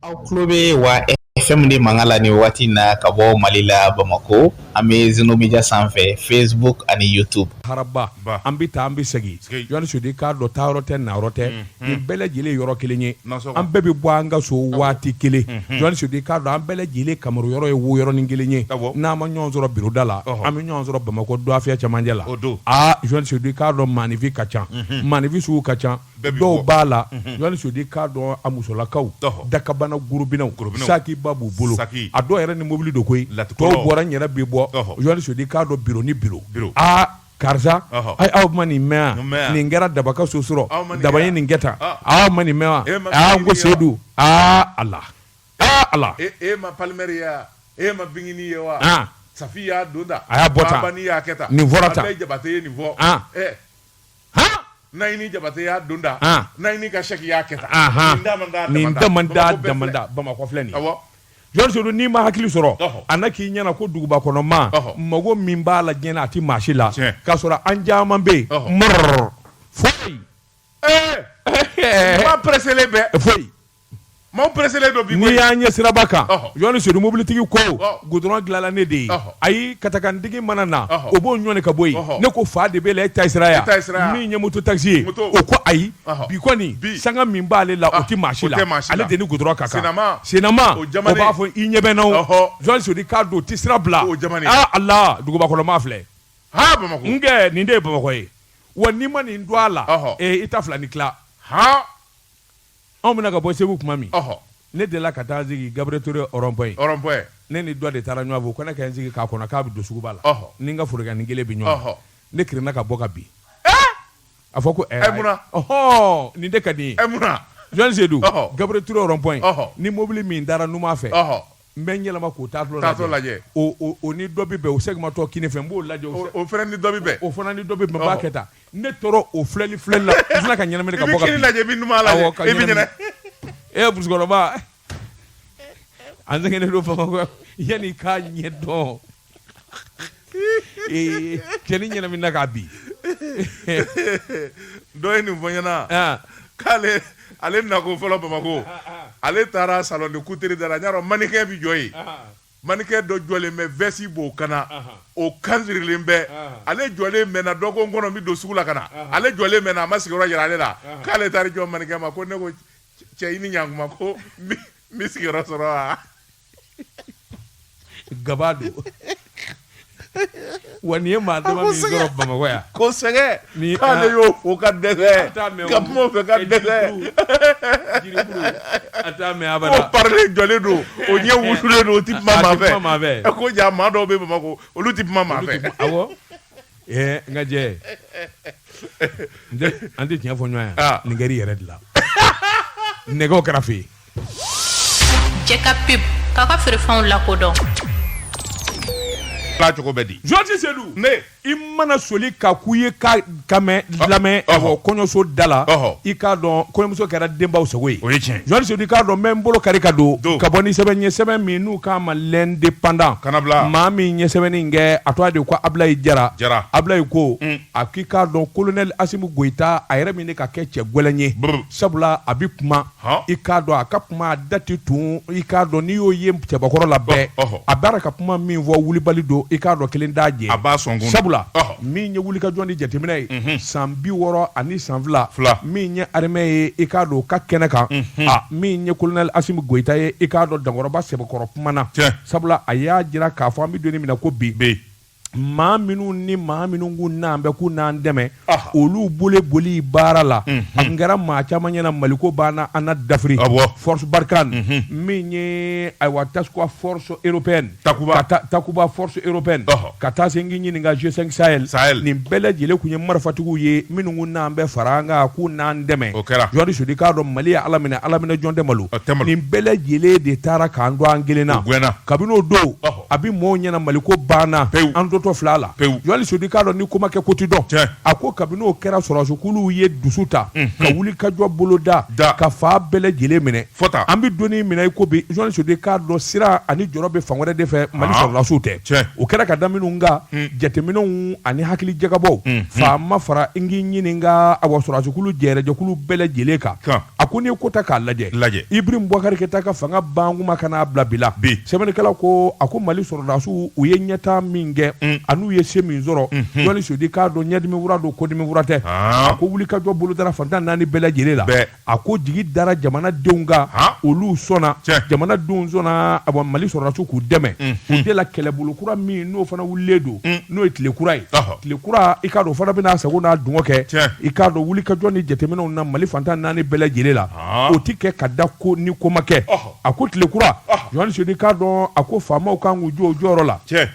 aw tulo bɛ wa FM de mankan la nin waati in na ka bɔ mali la bamakɔ an bɛ zenomedia sanfɛ facebook ani youtube haraba Ba. an bɛ taa an bɛ segin Segin. Jɔni Sedu k'a dɔn taa yɔrɔ tɛ na yɔrɔ tɛ nin bɛɛ lajɛlen ye yɔrɔ kelen ye Nasɔgɔ. an bɛɛ bɛ bɔ an ka so waati kelen Jɔni Sedu k'a dɔn an bɛɛ lajɛlen kamaru yɔrɔ ye wo yɔrɔnin kelen ye Awɔ. n'an ma ɲɔgɔn sɔrɔ biro da la Ɔhɔ. an bɛ ɲɔgɔn sɔrɔ bamakɔ duwafiyɛ cɛmancɛ la O don. aa Jɔni Sedu k'a dɔn maanifin ka ca maanifin sugu ka ca dɔw b'a la Jɔni Sedu k'a dɔn a musolakaw dakabana gurubinaw sakiba b'u bolo a dɔw yɛrɛ ni mobili don koyi tɔw bɔra n yɛrɛ bɛ bɔ Sedu k'a dɔn biro ni biro karisa aw ma nin mɛn nin kɛra dabaka so sɔrɔ daba ye nin kɛ tan aw ma nin mɛn wa n ko seyidu a ala ala e ma Palimɛri ye e ma Bigini ye wa Safi y'a don a y'a bɔ nin fɔra naɲini jabate y'a don da naɲini ka sɛki y'a kɛ tan nin damanda damanda bamakɔ filɛ nin Jɔni Sedu n'i ma hakili sɔrɔ a na k'i ɲɛna ko dugubakɔnɔmaa mago min b'a la diɲɛ na a tɛ maa si la k'a sɔrɔ an caman bɛ yen mɔrɔ foyi maa pɛrɛselen bɛ foyi Maaw presselen don bi koyi, n'i y'an ye siraba kan, ɔhɔ, Jɔni Sedu mobilitigi ko goudron dilanna ne de ye, ɔhɔ, ayi katakantigi mana na, ɔhɔ, o b'o ɲɔni ka bɔ yen, ɔhɔ, ne ko fa de b'e la e ta ye sira ye wa, e ta ye sira ye wa, min ye moto taxi ye, moto, o ko ayi, ɔhɔ, bi kɔni, bi, sanga min b'ale la, o tɛ maa si la, o tɛ maa si la, ale de ni goudron ka kan, sennamaa, sennamaa, o jamanen, o b'a fɔ i ɲɛ bɛ n na o, ɔhɔ, Jɔni Sedu k'a dɔn o tɛ sira bila, o jamanen, aa Ala dugubakɔnɔmaa filɛ, haa Bamakɔ, n kɛ nin de ye Bamakɔ ye, wa n'i ma nin dɔn a la, ɔhɔ, ee i ta fila ni tila, haa. anw bɛna ka bɔ segu tuma min ne delila ka taa sigi Gabriel Touré rond-point ne ni dɔ de taara ɲɔgɔn fɛ ko ne ka n sigi k'a kɔnɔ k'a bɛ don suguba la ni n ka forokiyanin kelen bɛ ɲɔgɔn ne kirinna ka bɔ ka bin a fɔ ko ɛɛɔ nin de ka di ye Jɔni Sedu Gabriel Touré rond-point ni mobili min taara numan fɛ n bɛ n yɛlɛma k'o taatɔ lajɛ o o- o ni dɔ bɛ bɛn o segimatɔ kini fɛ n b'o lajɛ o o fana ni dɔ bɛ bɛn o fana ni dɔ bɛ bɛn n b'a kɛ tan ne tora o filɛli filɛli la n sinna ka ɲɛnamini ka bɔ ka bin. i bɛ kini lajɛ i bɛ numan lajɛ Awɔ, ka i bɛ ɲɛnamini. ɲɛna ee musokɔrɔba an sɛgɛnnen don bamakɔ yanni i k'a ɲɛ dɔn Ee cɛnin ɲɛnaminina ka bin dɔ ye nin fɔ n ɲɛna k'ale ale nako fɔlɔ bamakɔ ale taara salon de couture da la yɔrɔ mannequin bɛ jɔ yen mannequin dɔ jɔlen bɛ veste b'o kan na o kanzirilen bɛ ale jɔlen mɛnna dɔ ko n kɔnɔ n bɛ don sugu la ka na ale jɔlen mɛnna a ma sigiyɔrɔ yira ale la k'ale taara jɔ mannequin ma ko ne ko cɛ i ni ɲankuma ko n bɛ sigiyɔrɔ sɔrɔ wa gaba don wa nin ye maa dama min sɔrɔ bamakɔ yan ko sɛgɛ ni k'ale y'o fo ka dɛsɛ ka kuma o fɛ ka dɛsɛ a t'a mɛn abada ko parili jɔlen don o ɲɛ wusulen don o ti kuma maa fɛ maa fɛ ɛ ko ja maa dɔw bɛ bamakɔ olu ti kuma maa fɛ awɔ ɛɛ n ka jɛ an tɛ tiɲɛ fɔ ɲɔgɔn yan nin kɛra i yɛrɛ de la nɛgɛw kɛra fɛ yen Cɛ ka pe ka ka feerefɛnw lakodɔn cogo bɛ di yohani sodi ne i mana soli ka k'u ye ka ka lamɛn kɔɲɔso da la i k'a dɔn kɔɲɔmuso kɛra denbaw sago ye o ye tiɲɛ yohani sodi k'a dɔn n bɛ n bolo kari ka don ka bɔ ni sɛbɛn ye sɛbɛn min n'u k'a ma l'indépendant ka kana bila maa min ye sɛbɛnni in kɛ a tɔgɔ de ko abilayi jara jara abilayi ko a k'i k'a dɔn kolonɛli asimi goyita a yɛrɛ min de ka kɛ cɛ gɛlɛn ye sabula a bɛ kuma i k'a dɔn a ka kuma a da ti tun i k'a dɔn n'i y'o ye cɛbakɔrɔ la bɛɛ a bɔra ka kuma min fɔ wulibali don i k'a dɔn kelen t'a jɛ a b'a sɔn sabula min ye wulikajɔ ni jateminɛ ye san bi wɔɔrɔ ani san fila min ye arme ye i k'a dɔn o ka kɛnɛ kan min ye kolonɛli asimi goyita ye i k'a dɔn dankɔrɔba sɛbɛkɔrɔ kumana sabula a y'a jira k'a fɔ an bɛ don min na ko bi bɛ maa minnu ni maa minnu k'u n'an bɛ k'u n'an dɛmɛ olu bolo bɔli baara la a kɛra maa caman ɲɛna maliko banna an na dafiri force barkhane min ye ayiwa task force européenne takuba force européenne ka taa se n k'i ɲininka G5 sahel nin bɛɛ lajɛlen tun ye marifatigiw ye minnu k'u n'an bɛ fara an kan k'u n'an dɛmɛ o kɛra yohani sodi k'a dɔn mali ye ala minɛ ala minɛ jɔn tɛ malo nin bɛɛ lajɛlen de taara k'an to an kelen na kabini o don a bɛ mɔɔw ɲɛna mali ko banna pewu an totɔ fila la pewu yohani sodi k'a dɔn ni ko ma kɛ ko ti dɔn a ko kabini o kɛra sɔrɔdasiw ye dusu ta ka wulikajɔ bolo da da ka fan bɛɛ lajɛlen minɛ fɔta an bɛ don min na i ko bi yohani sodi k'a dɔn siran ani jɔrɔ bɛ fan wɛrɛ de fɛ mali sɔrɔdasiw tɛ o kɛra ka da minnu kan jateminɛw ani hakili jagabɔw faama fara n k'i ɲininka awa sɔrɔdasikulu jɛrɛjɛkulu bɛɛ lajɛlen kan a ko n'i ye ko ta k'a lajɛ lajɛ ibrahim bubakari keyita ka fanga ban kuma ka n'a bila bila bi sɛbɛnnikɛla ko a ko mali sɔrɔdasiw u ye ɲɛtaa min kɛ mm. an'u ye se min sɔrɔ mm-hmm. yohani sodi k'a dɔn ɲɛdimi wura don kɔdimi wura tɛ ah. a ko wulikajɔ bolodara fantan naani bɛɛ lajɛlen la a ko jigi dara jamanadenw kan ah. olu sɔnna jamanadenw sɔnna a mali sɔrɔdasiw k'u dɛmɛ mm-hmm. o de la kɛlɛbolo kura min n'o fana wulilen don mm. n'o ye tile kura ye tile kura i k'a dɔn o fana bɛna a sago n'a dungɔ kɛ, tiɲɛ, i k'a dɔn wulikajɔ ni jateminɛw na Mali fantan naani bɛɛ lajɛlen la, ɔɔ, o tɛ kɛ ka da ko ni ko ma kɛ, ɔhɔ, a ko tile kura, ɔhɔ, Yohani Sodi k'a dɔn a ko faamaw ka kan k'u jɔ u jɔyɔrɔ la, tiɲɛ,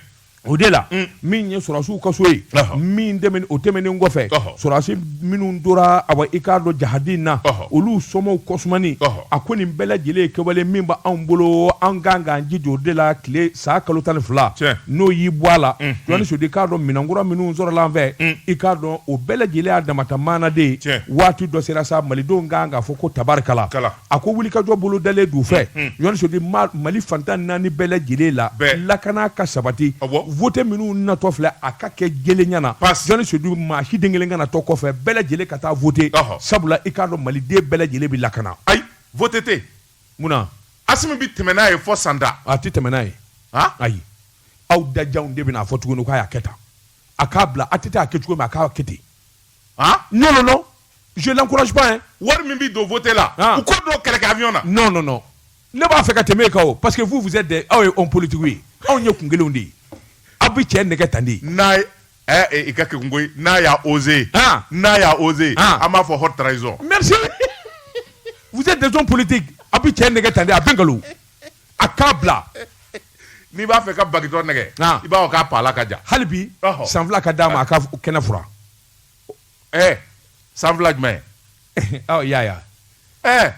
o de la, un, min ye sɔrɔdasiw ka so ye, ɔhɔ, min tɛmɛnen o tɛmɛnen kɔfɛ, ɔhɔ, sɔrɔdasi minnu tora a i k'a dɔn jahadi na olu somaw kɔsmani a ko nin bɛɛ lajɛlen kɛwale min b' anw bolo an kan ka jija o de la tile san kalo tan ni fila n'o y'i bɔ a la jɔnni sodi k'a dɔn minɛn kura minnu sɔrɔla an fɛ i k'a dɔn o bɛɛ lajɛlen a damata maanaden waati dɔ sera sa malidenw kan k'a fɔ ko tabarikala a ko wulikajɔ bolodalen d'u fɛ jɔnni sodi mali fan tan naani bɛɛ lajɛlen la lakana ka sabati vote minnu natɔ filɛ a ka kɛ jɛlenya na jɔnni sodi maa si den kelen kana to kɔfɛ bɛɛ lajɛlen ka taa vote sabula i k'a dɔn maliden bɛɛ lajɛlen bɛ lakana ayi vote tɛ munna Asimi bɛ tɛmɛ n'a ye fɔ san tan a tɛ tɛmɛ n'a ye ayi aw dajanw de bɛn'a fɔ tuguni k'a y'a kɛ tan a k'a bila a tɛ taa a kɛ cogo min a k'a kɛ ten n je l'encourage pas wari min bɛ don vote la u k'o don kɛlɛkɛ avion na non non non ne b'a fɛ ka tɛmɛ e kan o parce que vous vous êtes des aw ye hommes politiques ye aw ye kun kelen de ye aw bɛ cɛ nɛgɛ tan di n'a ye i ka kɛ koyi n'a y'a osé n'a y'a osé an b'a fɔ haute trahison merci vous êtes des hommes politiques a bɛ cɛ nɛgɛ tan di a bɛ nkalon a k'a bila n'i b'a fɛ ka bagitɔ nɛgɛ i b'a fɔ k'a la ka jan hali bi san fila ka d'a ma a ka kɛnɛ fura ɛ san fila jumɛn ɔ y'a y'a ɛ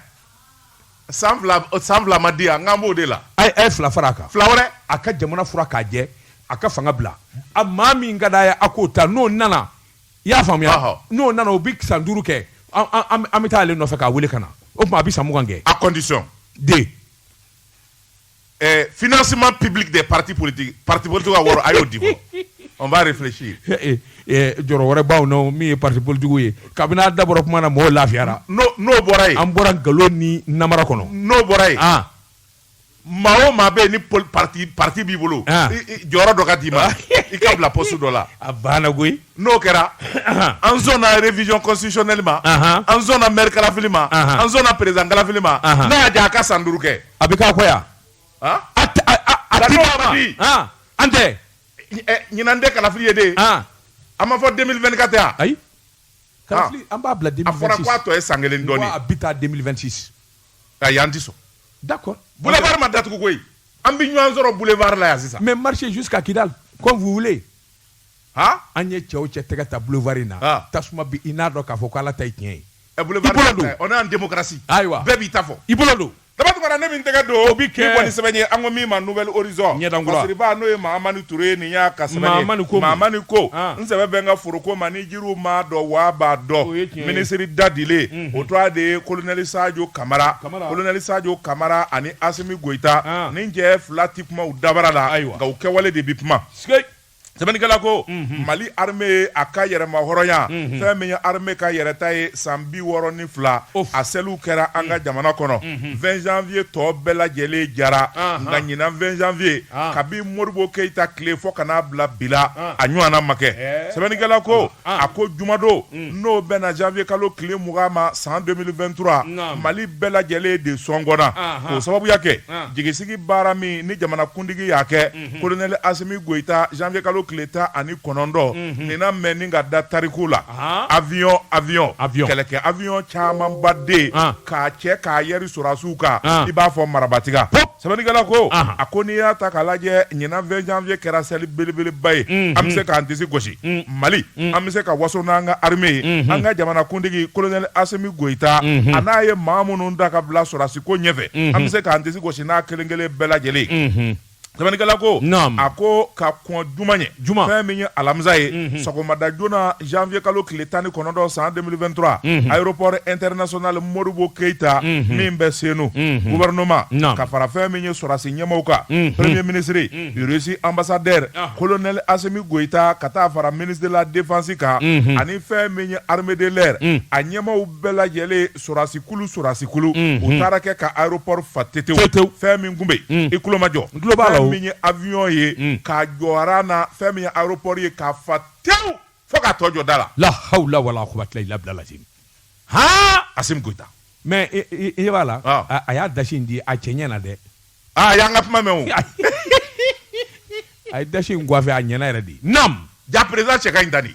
san fila san fila ma di yan n k'an b'o de la a ye a ye fila fara a kan fila wɛrɛ a ka jamana fura k'a jɛ a ka fanga bila a maa min ka d'a ye a k'o ta n'o nana i y'a faamuya Ɔhɔ. n'o nana o bɛ san duuru kɛ an- an an- an bɛ taa ale nɔfɛ k'a wele ka na o tuma a bɛ san mugan kɛ à condition de financement public des partis politiques pati politigiw ka wɔɔrɔ a y'o di fɔlɔ on va réfléchir jɔrɔ wɛrɛ b'aw na o min ye pati politigiw ye kabini a dabɔra tuma na mɔgɔw lafiyara n'o bɔra yen an bɔra nkalon ni namara kɔnɔ n'o bɔra yen maa o maa bɛ yen ni p pati b'i bolo jɔyɔrɔ dɔ ka d'i ma i ka bila poste dɔ la a banna koyi n'o kɛra an sɔnna révision constitutionnelle ma an sɔnna maire kalafili ma an sɔnna président kalafili ma n'a y'a diya a ka san duuru kɛ a bɛ ka ko yan an tɛ ɲinan tɛ kalafili ye de a ma fɔ deux mille vingt-quatre ayi an b'a bila a fɔra k'a tɔ ye san kelen dɔɔnin a bɛ taa deux mille vingt-six ayi an tɛ sɔn d'accord boulevard ma datugu koyi an bɛ ɲɔgɔn sɔrɔ boulevard la yan sisan mais marchez jusqu'à Kidal comme vous an ye cɛ o cɛ tɛgɛ ta boulevard in na tasuma bi i n'a dɔn k'a fɔ ko Ala ta ye tiɲɛ ye, ɛ boulevard ta tɛ, on est en démocratie ayiwa bɛɛ b'i ta fɔ, i bolo don, Daba Tunkara ne bɛ n tɛgɛ don, o bɛ kɛ, ni bɔ ni sɛbɛn n ye an ko min ma Nouvelle Horizon ɲɛdan kura, masiriba n'o ye Mahamani Ture ye nin y'a ka sɛbɛn ye, Mahamani ko, Mahamani ko n sɛbɛ bɛ n ka foroko ma ni jiriw m'a dɔn wa a b'a dɔn, o ye tiɲɛ ye, minisiri dadilen o tɔgɔ de ye Kolonɛli Sajo Kamara, Kamara, Kolonɛli Sajo Kamara ani Asimi Goyita nin cɛ fila tɛ kuma u dabara la, ayiwa, nka u kɛwale de bɛ kuma, sikei sɛbɛnnikɛla ko mali armée ye a ka yɛrɛma hɔrɔnya fɛn min ye armée ka yɛrɛta ye san bi wɔɔrɔ ni fila a seliw kɛra an ka jamana kɔnɔ 20 janvier tɔɔ bɛɛ lajɛlen jara nka ɲinan 20 janvier kabi modibo keyita tile fɔ ka n'a bila bi la a ɲɔgɔnna ma kɛ sɛbɛnnikɛla ko a ko jumadon n'o bɛnna janvier kalo tile mugan ma san 2023 mali bɛɛ lajɛlen de sɔngɔnna k'o sababuya kɛ jigisigi baara min ni jamanakuntigi y'a kɛ Mhm. kolonɛli asimi goyita janvier kalo tile tan ani kɔnɔntɔn mhm. nin na mɛnni ka da tariku la avion avion kɛlɛkɛ avion camanba de ah. k'a cɛ k'a yɛri sɔrɔdasiw kan ah. i b'a fɔ marabatiga sɛbɛnnikɛla ko ah. a ko n'i y'a ta k'a lajɛ ɲinan 20 janvier kɛra seli belebeleba ye mhm. an bɛ se k'an disi gosi mm. mali mm. an bɛ se ka waso n'an ka arme ye mhm. an ka jamanakuntigi kolonɛli asimi goyita a n'a ye maa minnu da ka bila sɔrɔdasiko ɲɛfɛ an bɛ se k'an disi gosi n'a kelen kelen bɛɛ lajɛlen Sɛbɛnnikɛla ko naam a ko ka kɔn juma ɲɛ juma fɛn min ye alamisa ye unhun sɔgɔmada joona janvier kalo tile tan ni kɔnɔntɔn san 2023 unhun aéroport international Modibo Keita unhun min bɛ Senu unhun gouvernement naam ka fara fɛn min ye sɔrasi ɲɛmaaw kan unhun premier ministre unhun Russie ambassadeur ah. colonel Assimi Goïta ka taa fara ministre de la défense kan unhun ani fɛn min ye armée de l'air un a ɲɛmaaw bɛɛ lajɛlen sɔrɔdasi kulu sɔrɔdasi kulu Unhun. u taara kɛ ka aéroport fa tetew Tetew. fɛn min tun bɛ yen Un. i tulo majɔ N tulo b'a la o. fɛn min ye avion ye Un. k'a jɔra na fɛn min ye aéroport ye k'a fa tew fo k'a tɔ jɔ da la la hawla wala quwwata illa billah lazim ha Assimi Goita mais i- i i ɲɛ b'a la Ah. a- a y'a dasi in di a cɛ ɲɛna dɛ ah y'an ka kuma mɛn o a ye dasi in coiffé a ɲɛna yɛrɛ de nam ja président cɛ ka ɲi tan de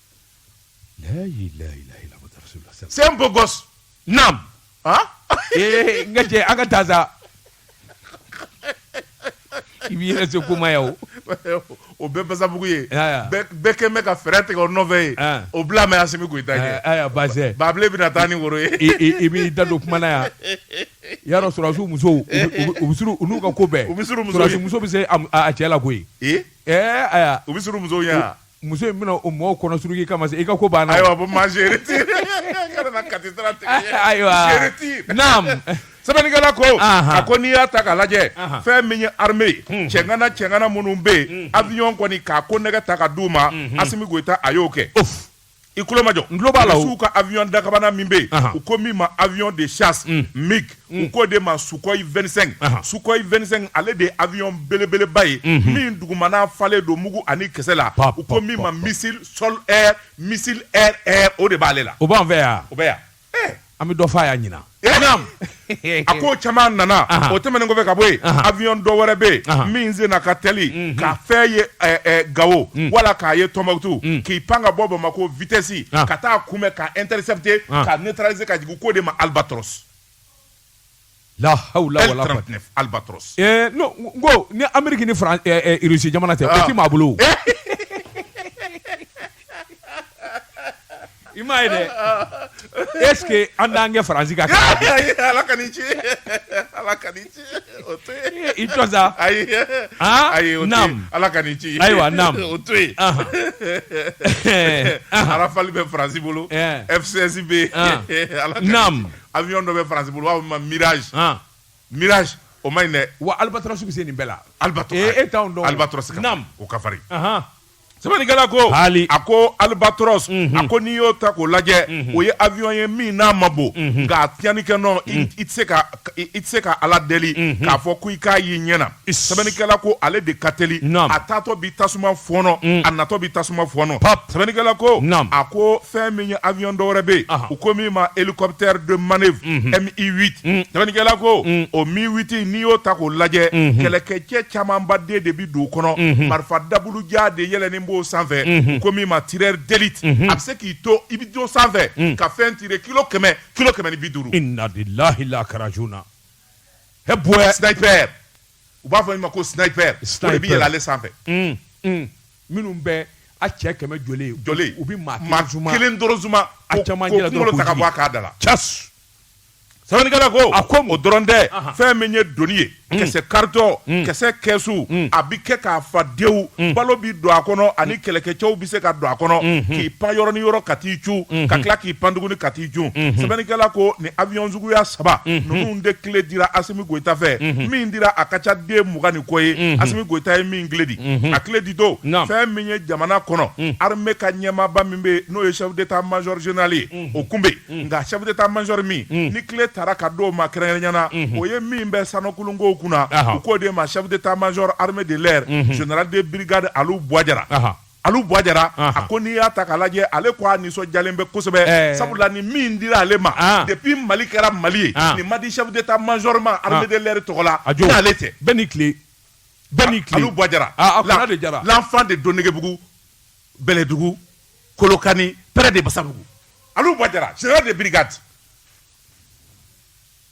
C'est un beau gosse naam nga cɛ an ka taa sa i b'i yɛrɛ se kuma yan o bɛɛ basabugu ye bɛɛ kɛlen bɛ ka fɛɛrɛ tigɛ o nɔfɛ ye o bila mɛ se k' i da kɛ ba ba bɛ taa ni woro ye i b'i da don kuma yan ya dɔn sɔrasiw musow u n'u ka ko bɛɛ sɔrasi muso bɛ se a cɛ la koyi u bɛ muso Muso in bɛna o mɔgɔw kɔnɔ suruki kama se i ka ko banna. Ayiwa bon moi je retire kana na kati sira tigɛ. Ayiwa je retire naam sɛbɛnnikɛla ko. Anhan a ko n'i y'a ta k'a lajɛ. Anhan fɛn min ye armée ye. Unhun cɛŋana cɛŋana minnu bɛ yen. Unhun avion kɔni k'a konnɛgɛ ta ka d'u ma. Unhun Assimi Goita a y'o kɛ. Ouf i tulo majɔ n tulo b'a la rusiw ka avion dakabana min bɛ yen u ko min ma avion de chasse mm. mig mm. u k'o de ma sukoyi 25 sukoyi 25 ale de ye avion belebeleba ye mhm. min dugumana falen don mugu ani kisɛ la u ko min ma missile sol air missile air air o de b'ale la o b'an fɛ yan o bɛ yan an bɛ dɔ fɔ a y'a ɲinan a ko caman nana o tɛmɛnen kɔfɛ ka bɔ yen avion dɔ wɛrɛ bɛ yen min sen na ka teli mhm. ka fɛn ye gawo mhm. wala k'a ye Tombouctou mhm. k'i pan ka bɔ Bamako vitesse ka taa kunbɛn ka intercepter ka neutraliser ka jigin k'o de ma Albatros Lahawula ko ni Amérique ni Russie jamana tɛ o tɛ maa bolo i m'a ye dɛ est-ce que an daan kɛ faransi ka ala ka ci ala ka ci i ayi ala ka ci ayiwa o to yen Rafale bɛ faransi bolo F16 bɛ ala avion dɔ bɛ France bolo u b'a fɔ ma mirage han mirage o man ɲi dɛ wa albatros bɛ se nin bɛɛ la albatros ee e t'anw dɔn albatros ka farin o ka farin ahan sɛbɛnnikɛla ko Haali. a ko albatros a ko n'i y'o ta k'o lajɛ o ye avion ye min n'a ma bon nka a tiɲɛni kɛ nɔ i i tɛ se ka i i tɛ se ka ala deli k'a fɔ ko i k'a y'i ɲɛ na sɛbɛnnikɛla ko ale de ka teli a taatɔ bi tasuma fɔɔnɔ mm. a natɔ bi tasuma fɔɔnɔ sɛbɛnnikɛla ko a ko fɛn min ye avion dɔ wɛrɛ bɛ yen u ko min ma hélicoptère de manœuvre MI8 mm-hmm. mm. sɛbɛnnikɛla ko mm. o MI8 n'i y'o ta k'o lajɛ mm-hmm. kɛlɛkɛcɛ camanba de de bi don o kɔnɔ mm-hmm. marifa dabulujan de yɛlɛnen b'o sanfɛ u ko min ma tireur d'élite a bɛ se k'i to i bɛ to sanfɛ ka fɛn tire kilo kɛmɛ kilo kɛmɛ ni bi duuru. e boy sniper u b'a fɔ min ma ko sniper o de bɛ yɛlɛ ale sanfɛ mm, mm. minnu bɛ a cɛ kɛmɛ jɔjɔlen u bɛ maa kelen dɔrɔn zuma a cɛmancɛ la dɔrɔn k'o ta ka bɔ a k'a da la cas sɛbɛnnikɛla ko a ko o dɔrɔn tɛ fɛn min ye doni ye mm. kisɛ karitɔn mm. kisɛ kɛsu mm. a bɛ kɛ k'a fa dewu balo bɛ don a kɔnɔ ani kɛlɛkɛcɛw bɛ se ka don a kɔnɔ mm-hmm. k'i pan yɔrɔ ni yɔrɔ ka t'i cun ka mm-hmm. tila k'i pan tuguni ka t'i cun mm-hmm. sɛbɛnnikɛla ko nin avion suguya saba ninnu de kile dira asimi goyita fɛ min dira a ka ca den mugan ni kɔ ye asimi goyita ye min kile di a kile ditɔ fɛn min ye jamana kɔnɔ armée ka ɲɛmaaba min bɛ n'o ye chef d'état major général ye o kun bɛ nka chef d'état major min ni kile taara ka d'o ma kɛrɛnkɛrɛnyana o ye min bɛ sanokulunkow kunna u k'o de ma chef d'état major armée de l'air général de brigade Alu Bɔyi Jara. Alu Bɔyi Jara a ko n'i y'a ta k'a lajɛ ale ko a nisɔndiyalen bɛ kosɛbɛ sabula nin min dira ale ma depuis Mali kɛra Mali ye nin ma di chef d'Etat major ma armée de l'air tɔgɔ la ni ale tɛ bɛɛ n'i tile bɛɛ n'i tile Alu Bɔyi Jara a Kɔnɛ de Jara l'enfant de Donegebugu Bɛlɛdugu Kolokani près de Basabugu Alu Bɔyi Jara général de brigade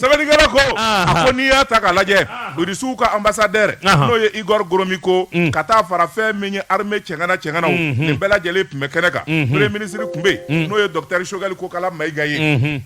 sɛbɛnnikɛla ko a ko n'i y'a ta k'a lajɛ irisiw ka anbasadɛrɛ n'o ye igɔri goromiko mm. ka taa fara fɛn min ye arime cɛŋana cɛŋanaw mm-hmm. nin bɛɛ lajɛlen tun bɛ kɛnɛ kan mm-hmm. premier minisiri tun bɛ mm. n'o ye dɔkitɛri sogɛli kokala mayiga ye mm-hmm.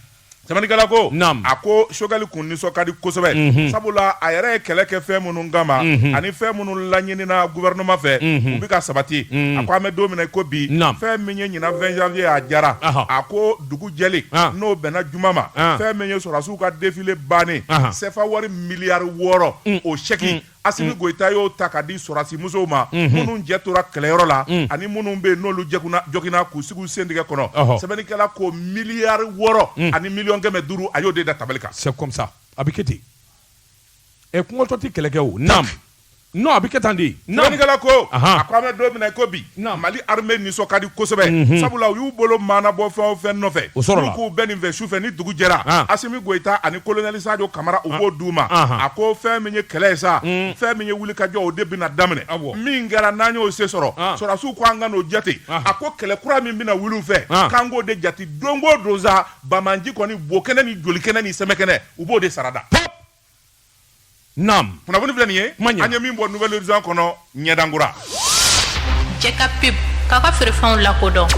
sɛbɛnnikɛla ko a ko sogɛli kun nisɔn ka di kosɛbɛ sabula a yɛrɛ ye kɛlɛ kɛ fɛn minnu kama ani fɛn minnu laɲinina guvɛrɛnɛma fɛ u bɛ ka sabati a ko an bɛ don min na ko bi fɛn min ye ɲinan 20 janvier a jara a ko dugu jɛlen An. n'o bɛnna juma ma An. fɛn min ye sɔrɔdasiw ka defile bannen Ahan. sɛfa wari miliyari wɔɔrɔ o sɛki Asimi Goyita y'o ta k'a di sɔrɔdasi musow ma minnu cɛ tora kɛlɛyɔrɔ la ani minnu bɛ yen n'olu joginna k'u sigi u sen tigɛ kɔnɔ Ɔhɔ. sɛbɛnnikɛla ko miliyari wɔɔrɔ ani miliyɔn kɛmɛ duuru a y'o de da tabali kan c'est comme ça a bɛ kɛ ten ɛ kɔngɔtɔ tɛ kɛlɛ kɛ o naam Non a bɛ kɛ tan di sɛbɛnnikɛla ko a ko an bɛ don min na i ko bi mali arime nisɔn ka di kosɛbɛ sabula u y'u bolo mɔɔnɔbɔ fɛn o fɛn nɔfɛ k'u bɛ nin fɛ su fɛ ni dugu jɛra asimi goyita ani kolonɛli sajo kamara u b'o d' u ma a ko fɛn min ye kɛlɛ ye sa fɛn min ye wulikajɔ o de bɛna daminɛ min kɛra n'an y'o sen sɔrɔ sɔrɔdasiw ko an kan'o jate a ko kɛlɛ kura min bɛna wuli u fɛ k'an k'o de jate don go don sa bamananji kɔni bo kɛnɛ ni joli kɛnɛ ni sɛmɛ kɛnɛ u b'o de sarada Naam. Kunnafoni filɛ nin ye. Kuma ɲɛ. An ye min bɔ nouvel horizon kɔnɔ ɲɛdankura. Jɛ ka pub k'a ka feerefɛnw lakodɔn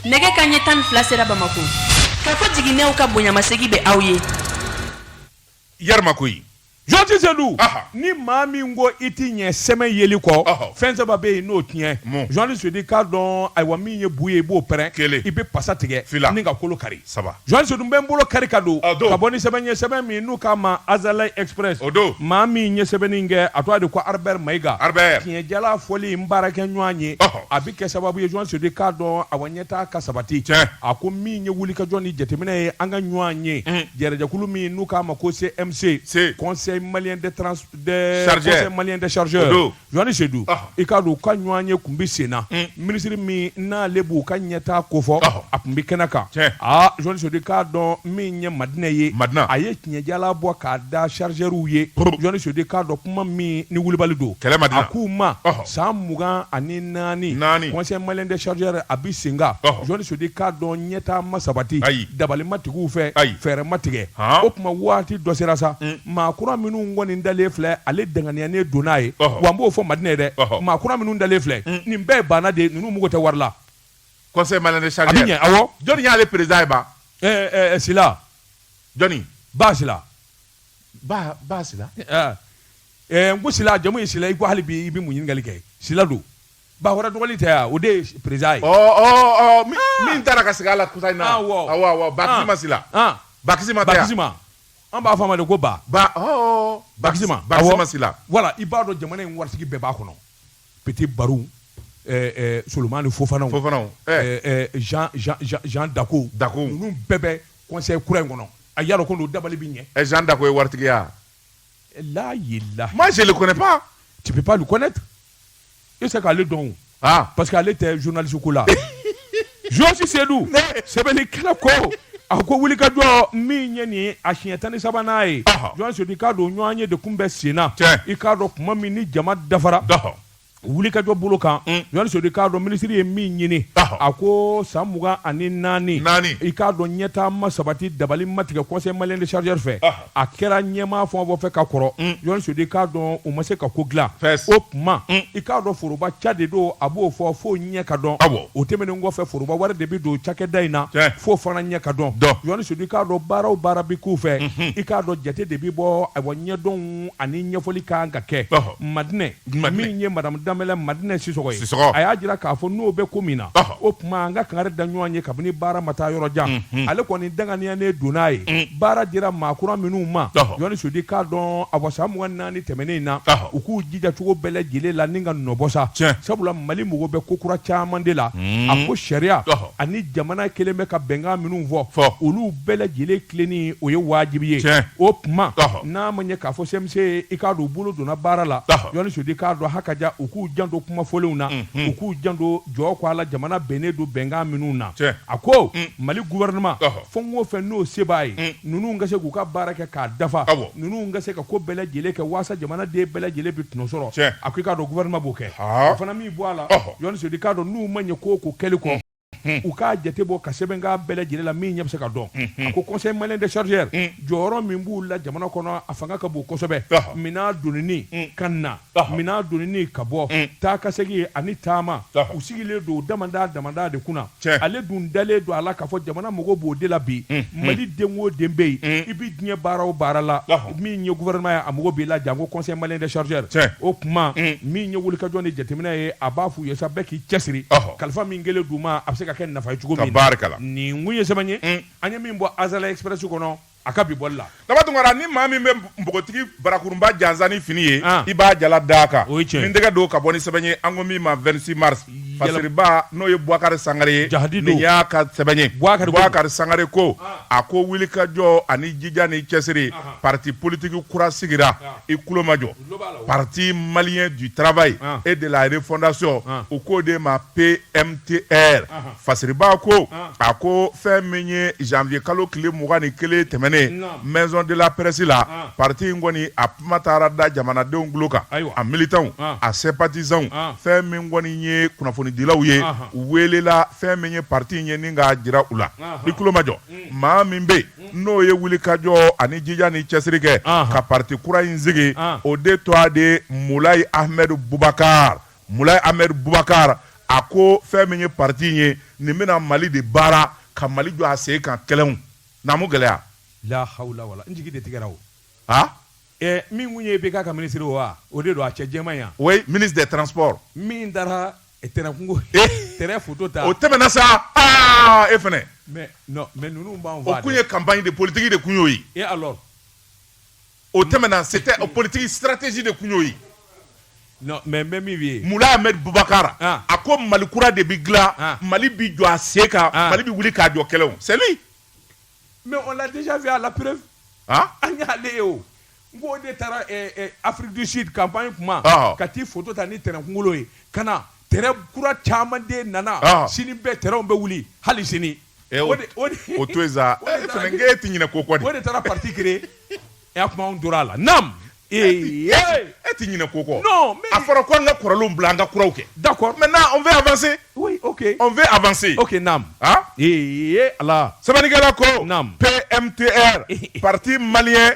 nɛgɛ kanɲɛ tan ni fila sera bamako kafo jiginɛw ka bonyamasegi bɛ aw ye Yarima ko yi. Jɔn Sedu. Aha. Ni maa min ko i t'i ɲɛ sɛmɛ yeli kɔ. Ɔhɔ. Fɛn saba bɛ yen n'o tiɲɛ. Mun? Jɔn Sedu i k'a dɔn ayiwa min ye bu ye i b'o pɛrɛn. Kelen. I bɛ pasa tigɛ. Fila. N'i ka kolo kari. Saba. Jɔn Sedu bɛ n bolo kari k'a don A don. ka bɔ ni sɛbɛn ye sɛbɛn min n'u k'a ma Azalaï Express O don. maa min ye sɛbɛnni in kɛ a tɔgɔ de ko Harber Maïga Harber. tiɲɛjala fɔli n baarakɛɲɔgɔn ye Ɔhɔ. a bɛ kɛ sababu ye Jɔn Sedu k'a dɔn ayiwa ɲɛ taa ka sabati Tiɲɛ. a ko min ye wulikajɔ ni jateminɛ ye an ka ɲɔgɔnye Un. jɛrɛjɛkulu min n'u k'a ma ko CMC Se. Conseil malien de trans de Chargeur. Conseil malien de chargeur O don. Jɔni Sedu Ɔhɔ. i k'a dɔn u ka ɲɔgɔnye kun bɛ sen na Un. minisiri min n'ale b'u ka ɲɛtaa ko fɔ Ɔhɔ. a kun bɛ kɛnɛ kan Tiɲɛ. aa Jɔni Sedu i k'a dɔn min ye Madina ye Madina. a ye tiɲɛjala bɔ k'a da chargeurs ye Brr. Jɔni Sedu i k'a dɔn kuma min ni wulibali don Kɛlɛ Madina. a k'u ma Ɔhɔ. san mugan ani naani naani conseil malien de chargeur a bɛ sen kan jɔnni sedu i k'a dɔn ɲɛtaa ma sabati ayi dabali ma tigɛ u fɛ ayi fɛɛrɛ ma tigɛ o tuma waati dɔ sera sa mm. maa kura minnu kɔni dalen filɛ ale danganiya ne don n'a ye wa n b'o fɔ madina dɛ maa kura minnu dalen filɛ mm. nin bɛɛ ye baana de ninnu mago tɛ wari la conseil malien de chargeur a bɛ ɲɛ awɔ jɔnni y'ale perezidan ye ba ɛɛ ɛɛ sila jɔnni ba sila ba ba sila ɛɛ ɛ n ko sila jamu ye sila i ko hali bi i bɛ mun ɲininkali kɛ sila don Bakore dɔgɔnin tɛ yan o de ye perezan ye. ɔ ɔ ɔ min ah! taara ka sigi a la kɔsa in na. Ah, awɔ awɔ awɔ Bakisima Sila. Bakisima tɛ yan Bakisima an b'a fɔ a ma de ko ba. ba ɔɔ Bakisima Bakisima Sila. voilà i b'a dɔn jamana in waritigi bɛɛ b'a kɔnɔ Petit Barou eh, eh, solomani fofanaw fofanaw eh. jean jean jean dako dako ninnu bɛɛ bɛ conseil kura in kɔnɔ a y'a dɔn ko n'o dabali bɛ ɲɛ. jean dako ye waritigiya. Là, il est là. Moi, je le connais pas. Tu peux pas le connaître. I tɛ se k'ale dɔn. Ah. Parce que ale tɛ journaliste ko la. Josi Sedu. Sɛbɛnnikɛla ko. A ko wuli ka jɔ min ye nin ye a siɲɛ tan ni sabanan ye jɔn sodi k'a dɔn ɲɔgɔnye de kun bɛ sen na i k'a dɔn kuma min ni jama dafara wuli kajɔ bolo kan ɲɔni sodi k'a dɔn minisiri ye min ɲini a ko san mugan ani naani i k'a dɔn ɲɛtaama sabati dabali matigɛ conseil malien des chargeurs fɛ a kɛra ɲɛmaa fɛn o fɛn fɛ ka kɔrɔ ɲɔni sodi k'a dɔn u ma se ka ko dilan o tuma i k'a dɔn foroba ca de don a b'o fɔ fo ɲɛ ka dɔn o tɛmɛnen kɔfɛ foroba wari de bɛ don cakɛda in na f'o fana ɲɛ ka dɔn ɲɔni sodi k'a dɔn baara o baara bɛ k'u fɛ i k'a dɔn jate de bɛ bɔ ɲɛdɔnw ani ɲɛfɔli ka kan ka kɛ Madina min ye madamu danbɛlɛ Madina sisɔgɔ ye Sisɔgɔ. a y'a jira k'a fɔ n'o bɛ ko min na Ɔhɔ. o tuma an ka kangari da ɲɔgɔn ye kabini baara ma taa yɔrɔ jan ale kɔni danganiyanen don n'a ye baara dira maa kura minnu ma Ɔhɔ. jɔni sodi k'a dɔn awa san mugan ni naani tɛmɛnen in na Ɔhɔ. u k'u jija cogo bɛɛ lajɛlen la nin ka nɔ bɔ sa Tiɲɛ. sabula mali mago bɛ ko kura caman de la a ko sariya Ɔhɔ. ani jamana kɛlen bɛ ka bɛnkan minnu fɔ Fɔ. olu bɛɛ lajɛlen tilenni o ye wajibi ye Tiɲɛ. o tuma Ɔhɔ. n'a ma ɲɛ k'a fɔ CMC i k'a dɔn u bolo donna baara la Ɔhɔ. yɔni sodi k'a dɔn hakaja u k'u janto kuma fɔlenw na u k'u janto jɔ ko a la jamana bɛnnen don bɛnkan minnu na Tiɲɛ. a ko mali gouvernement Ɔhɔ. fɛn o fɛn n'o se b'a ye ninnu ka se k'u ka baara kɛ k'a dafa Awɔ. ninnu ka se ka ko bɛɛ lajɛlen kɛ waasa jamanaden bɛɛ lajɛlen bɛ tɔnɔ sɔrɔ Tiɲɛ. a ko i k'a dɔn gouvernement b'o kɛ Haa. o fana m'i bɔ a la Ɔhɔ. yɔni sodi k'a dɔn n'u ma ɲɛ ko o ko kɛli kɔ u k'a jate bɔ ka sɛbɛn k'a bɛɛ lajɛlen la min ɲɛ bɛ se ka dɔn a ko conseil malien des chargeurs jɔyɔrɔ min b'u la jamana kɔnɔ a fanga ka bon kosɛbɛ minɛn donini ka na minɛn donini ka bɔ taa ka segin ani taama u sigilen don damanda damanda de kunna ale dun dalen don a la k'a fɔ jamana mago b'o de la bi mali den o den bɛ yen i bɛ diɲɛ baara o baara la min ye gouvernement ye a mago b'i la janko conseil malien des chargeurs Tiɲɛ. o tuma min ye wulikajɔ ni jateminɛ ye a b'a f'u ye sa bɛɛ k'i cɛsiri Ɔhɔ. kalifa min kɛlen d'u ma a bɛ se ka kɛ nafa ye cogo min na Tabarikala. nin kun ye sɛbɛn ye an ye min bɔ Azalaï Express kɔnɔ a ka bi bɔli la Daba Tunkara ni maa min bɛ npogotigi barakurunba jansa ni fini ye Ah. i b'a jala d'a kan O ye tiɲɛ ye. ni tɛgɛ don ka bɔ ni sɛbɛn ye an ko min ma 26 mars Fasiriba n'o ye Bukari Sangare ye Jahadido nin y'a ka sɛbɛn ye Bukari Sangare ko a ko wulikajɔ ani jija ni cɛsiri parti politique kura sigira i tulo majɔ parti malien du travail et de la refondation u k'o de ma PMTR. Fasiriba ko a ko fɛn min ye janvier kalo tile mugan ni kelen tɛmɛnen maison de la presse la parti in kɔni a kuma taara da jamanadenw tulo kan a militantw a sympathisantw fɛn min kɔni ye kunnafonidilaw ye u welela fɛn min ye parti in ye ni k'a jira u la i tulo majɔ maa min bɛ yen n'o ye wulikajɔ ani jija ni cɛsiri kɛ ka parti kura in sigi o de tɔgɔ de Moulay Ahmed Boubacar Moulay Ahmed Boubacar a ko fɛn min ye parti in ye nin bɛna Mali de baara ka Mali jɔ a sen kan kɛlɛw naamu gɛlɛya la hawla wala n jigi de tigɛra o ha ɛ min kun ye IBK ka ministre o wa o de don a cɛ jɛman yan oui ministre des transports min taara tɛrɛn kunkolo tɛrɛn photo ta o tɛmɛna sa aa e fɛnɛ mais non mais ninnu b'an faa o kun ye campagne de politique de kun y'o ye et alors O tɛmɛna se tɛ o politigi siratisi de tun y'o ye mɛ bɛ min ye mulabubakarara a ko mali kura de bɛ dila mali bɛ jɔ a se ka mali bɛ wuli k'a jɔ kɛlɛ seli mɛ o la y'a lap an y'ale ye o n ko de taara afirisi kap in kuma ka taa fo ta ni tɛnɛnkun ye ka na t kura caman den nana sini bɛɛ tw bɛ wuli hali sini Eh, o to sa e fana e tɛ ɲinɛ ko kɔ o de taara parti créer a kuma anw tora a la nam ee e tɛ ɲinɛ ko kɔ a fɔra ko an ka kɔrɔlenw bila an ka kuraw kɛ d'accord maintenant on veut avancer on veut avancer o nam ee ala sɛbɛnnikɛla ko nam PMTR parti malien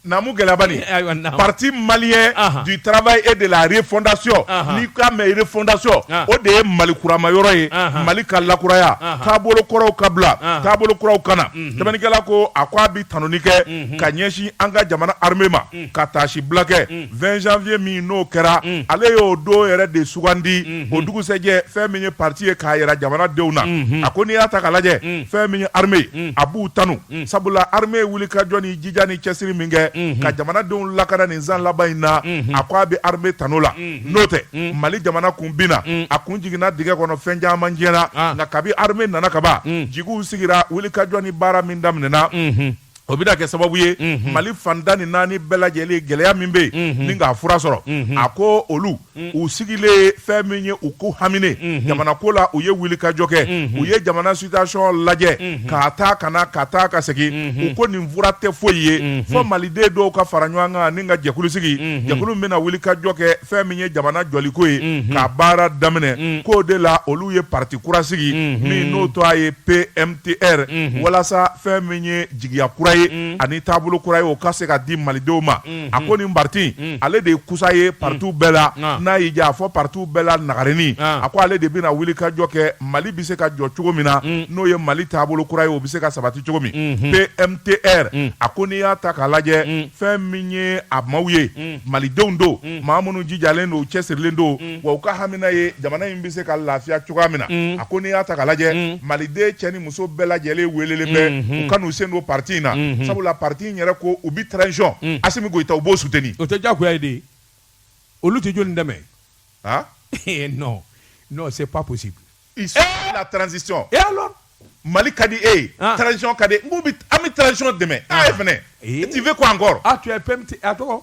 naamu gɛlɛya bani ayiwa naamu. parti malien Ahan. du travail et de la refondation Ahan. n'i k'a mɛn refondation Ah. o de ye mali kurama yɔrɔ ye Ahan. mali ka lakuraya Ahan. taabolo kɔrɔw ka bila Ahan. taabolo kuraw ka na sɛbɛnnikɛla ko a ko a bi tanuni kɛ ka ɲɛsin an ka jamana armée ma ka taasi bila kɛ 20 janvier min n'o kɛra ale y'o don yɛrɛ de sugandi o dugusɛjɛ fɛn min ye parti ye k'a yira jamanadenw na a ko n'i y'a ta k'a lajɛ fɛn min ye armée ye a b'u tanu sabula armée wulikajɔ ni jija ni cɛsiri min kɛ ka jamanadenw lakana nin san laban in na a ko a bɛ armée tanu o la n'o tɛ mali jamana kun binna a kun jiginna dingɛ kɔnɔ fɛn caman tiɲɛna nka kabi armée nana kaban jigiw sigira wulikajɔ ni baara min daminɛna o bɛna kɛ sababu ye mali fan tan ni naani bɛɛ lajɛlen gɛlɛya min bɛ yen ni k'a fura sɔrɔ a ko olu u sigilen fɛn min ye u ko haminen jamana ko la u ye wuli ka jɔ kɛ u ye jamana situation lajɛ ka taa ka na ka taa ka segin u ko nin fura tɛ foyi ye fɔ maliden dɔw ka fara ɲɔgɔn kan ni ka jɛkulu sigi jɛkulu min bɛna wuli ka jɔ kɛ fɛn min ye jamana jɔliko ye ka baara daminɛ k'o de la olu ye parti kura sigi min n'o tɔgɔ ye pmtr walasa fɛn min ye jigiya kura ye ani taabolo kura ye o ka se ka di malidenw ma a ko nin parti ale de ye kusa ye partiw bɛɛ la n'a y'i diya a fɔ partiw bɛɛ la nagarenin a ko ale de bɛna wuli ka jɔ kɛ mali bɛ se ka jɔ cogo min na n'o ye mali taabolo kura ye o bɛ se ka sabati cogo min pmtr a ko n'i y'a ta k'a lajɛ fɛn min ye a maaw ye malidenw don maa minnu jijalen don cɛsirilen don wa u ka hamina ye jamana in bɛ se ka lafiya cogoya min na a ko n'i y'a ta k'a lajɛ maliden cɛ ni muso bɛɛ lajɛlen welelen bɛ u ka n'u sen don pati in na sabula pati in yɛrɛ ko u bɛ ticɔn a se ko i ta u b'o sut o tɛ jagoya ye de olu tɛ jɔn dɛmɛ aa ee n se pa gosi tranzsi mali ka di e yecɔn ka di an bɛ tcɔn dɛmɛ a ye fana tɛ fɛ ko an kɔrɔ a tɔgɔ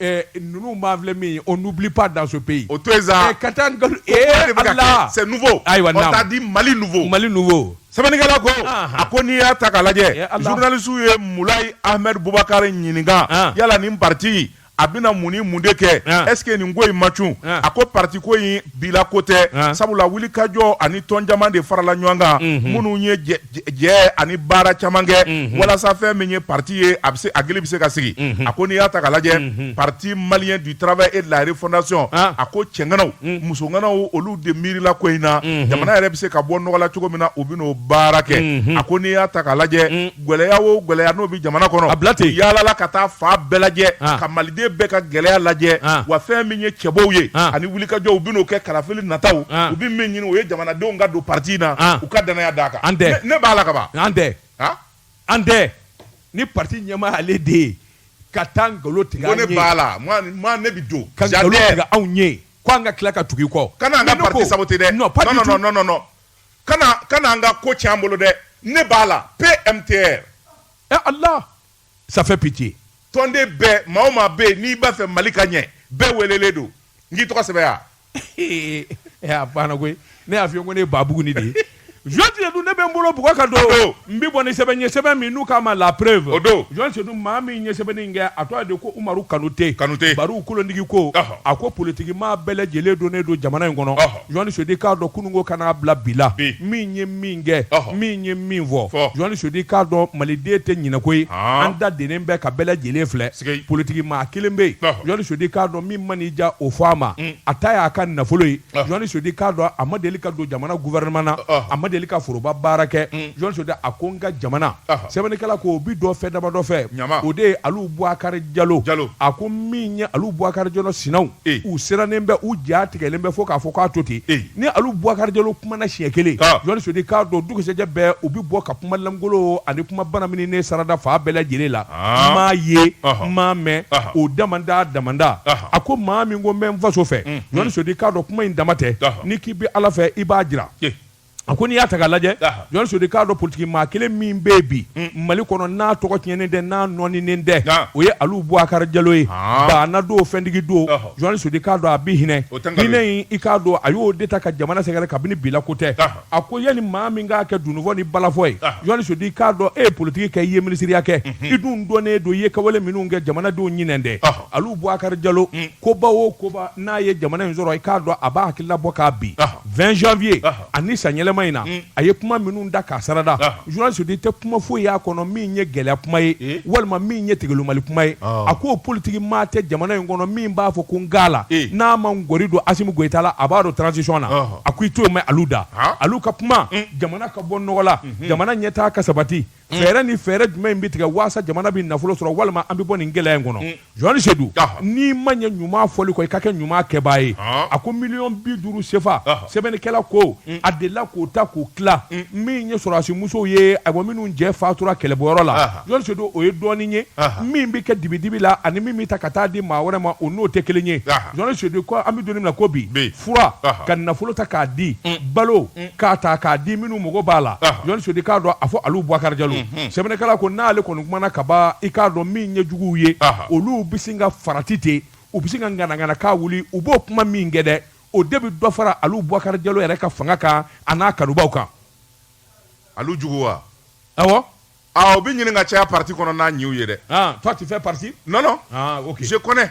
ninnu b'an filɛ min ye on n'oublie pas dans ce pays o to yen sa, ka taa ni nkalon ee Ala c'est nouveau ayiwa namu, on t'a dit Mali nouveau, Mali nouveau sɛbɛnnikɛla ko a ko n'i y'a ta k'a lajɛ journaliste ye Mulayi Ahmed Bubakar ɲininka yala nin parti a bɛna mun ni mun de kɛ est ce que nin ko in ma cun a ko parti ko in bi la ko tɛ sabula wulikajɔ ani tɔn caman de farala ɲɔgɔn kan minnu ye jɛ ani baara caman kɛ walasa fɛn min ye parti ye a bɛ hakili bɛ se ka sigi a ko n'i y'a ta ka lajɛ parti malien du travail et de la refondation a ko cɛ ŋanaw muso ŋanaw olu de miirila ko in na jamana yɛrɛ bɛ se ka bɔ nɔgɔ la cogo min na u bɛn'o baara kɛ a ko n'i y'a ta ka lajɛ gɛlɛya o gɛlɛya n'o bɛ jamana kɔnɔ a bila ten yaalala ka taa fan bɛɛ lajɛ ka maliden bɛɛ ka gɛlɛya lajɛ wa fɛn min ye cɛbɔw ye ani wulikajɔ u bɛn'o kɛ kalafili nataw u bɛ min ɲini o ye jamanadenw ka don parti in na u ka dannaya d'a kan an tɛ ne b'a la kaban an tɛ an tɛ ni parti ɲɛmaa ale de ye ka taa nkalon tigɛ ne b'a la ne bɛ don ka nkalon tigɛ anw ye k'an ka tila ka tugu i kɔ kana an ka parti saboter dɛ kana kana an ka ko tiɲɛ an bolo dɛ ne b'a la PMTR eh Allah ça fait pitié tɔnden bɛɛ maa o maa bɛ yen n'i b'a fɛ Mali ka ɲɛ bɛɛ welelen don n k'i tɔgɔ sɛbɛn yan eh a banna koyi ne y'a f'i ye ko ne ye Babugunin de ye Jɔn Sedu ne bɛ n bolo bugɔ ka don O don. n bɛ bɔ ni sɛbɛn ye sɛbɛn min n'u k'a ma la preuve O don. Jɔn Sedu maa min ye sɛbɛnni in kɛ a tɔgɔ de ko Umaru Kanute Kanute. Bariw kolondigi ko Ɔhɔ. a ko politiki maa bɛɛ lajɛlen donnen don jamana in kɔnɔ Ɔhɔ. Jɔni sedu k'a dɔn kununko kana bila bi la min ye min kɛ min ye min fɔ jɔni sedu k'a dɔn maliden tɛ ɲinɛko ye an da denen bɛ ka bɛɛ lajɛlen filɛ politigi maa kelen bɛ yen jɔni sedu k'a dɔn min man'i diya o fɔ a ma a ta y'a ka nafolo ye jɔni sedu k'a dɔn a ma deli ka don jamana gouvernement na a ma deli ka foroba baara kɛ jɔni sedu a ko n ka jamana sɛbɛnnikɛla ko o bɛ dɔ fɛ dama dɔ fɛ o de ye alu bubakari jalo a ko min ye alu bubakari jalo sinaw u sirannen bɛ u ja tigɛlen bɛ fo k'a fɔ k'a to ten ni alu bubakari jalo kumana siɲɛ kelen jɔni sedu k'a dɔn dugusɛjɛ bɛɛ u bɛ bɔ ka kuma lankolon ani kuma bana min ne sarada fa bɛɛ lajɛlen la n m'a ye n m'a mɛn o damanda damanda a ko maa min ko n bɛ n faso fɛ jɔni sedu k'a dɔn kuma in dama tɛ n'i k'i bɛ ala fɛ i b'a jira A ko n'i y'a ta k'a lajɛ jɔni sedu k'a dɔn politigi maa kelen min bɛ yen bi mali kɔnɔ n'a tɔgɔ tiɲɛnen tɛ n'a nɔɔninen tɛ o ye alu bubakari jalo ye baana don fɛntigi don jɔni sedu k'a dɔn a bɛ hinɛ hinɛ i k'a dɔn a y'o de ta ka jamana sɛgɛrɛ kabini bi la ko tɛ a ko yanni maa min k'a kɛ dunufɔ ni balafɔ ye jɔni sedu k'a dɔn e ye politigi kɛ i ye minisiriya kɛ i dun dɔnnen don i ye kɛwale minnu kɛ jamanadenw ɲinɛnen tɛ alu bubakari jalo koba o koba n'a ye jamana in sɔrɔ i k'a dɔn a b'a hakilila bɔ kabi vingt janvier ani san yɛlɛma in na mm. a ye kuma minnu da k'a sarada jɔni sedu tɛ kuma foyi y'a kɔnɔ min ye gɛlɛya kuma ye eh? walima min ye tigilimali kuma ye a ko politigi maa tɛ jamana in kɔnɔ min b'a fɔ ko n ga la eh. n'a ma gɔri don asimi goyita la a b'a don transisiɔn na a ko i t'o mɛn alu da alu ka kuma mm. jamana ka bɔ nɔgɔ la mm-hmm. jamana ɲɛtaa ka sabati fɛɛrɛ ni fɛɛrɛ jumɛn in bɛ tigɛ waasa jamana bɛ nafolo sɔrɔ walima an bɛ bɔ nin gɛlɛya in kɔnɔ mm. jɔni sedu n'i ma ɲɛ ɲuman fɔli kɔ i ka kɛ ɲuman kɛbaa ye ah. a ko miliyɔn bi duuru sefa sɛbɛnnikɛla ko mm. a delila k'o ta k'o tila mm. min ye sɔrɔdasi musow ye ayiwa minnu cɛ fatura kɛlɛbɔyɔrɔ la jɔni sedu o ye dɔɔnin ye min bɛ kɛ dibidibi la ani min bɛ ta ka taa di maa wɛrɛ ma o n'o tɛ kelen ye jɔni sedu ko an bɛ don min na ko bi fura ka nafolo ta k'a di balo k'a ta k'a di minnu mago b'a la jɔni sedu k'a dɔn a fɔ alu bubakari jalo sɛbɛnnikɛla ko n'ale kɔni kumana ka ban i k'a dɔn min ye juguw ye olu bɛ sin ka farati ten u bɛ sin ka ŋanaŋana ka wuli u b'o kuma min kɛ dɛ o de bɛ dɔ fara alu bubakari jalo yɛrɛ ka fanga kan a n'a kanubaw kan alu jugu wa awɔ u bɛ ɲini ka caya pati kɔnɔ n'a ɲiw ye dɛ toi tu fais partie non non je connais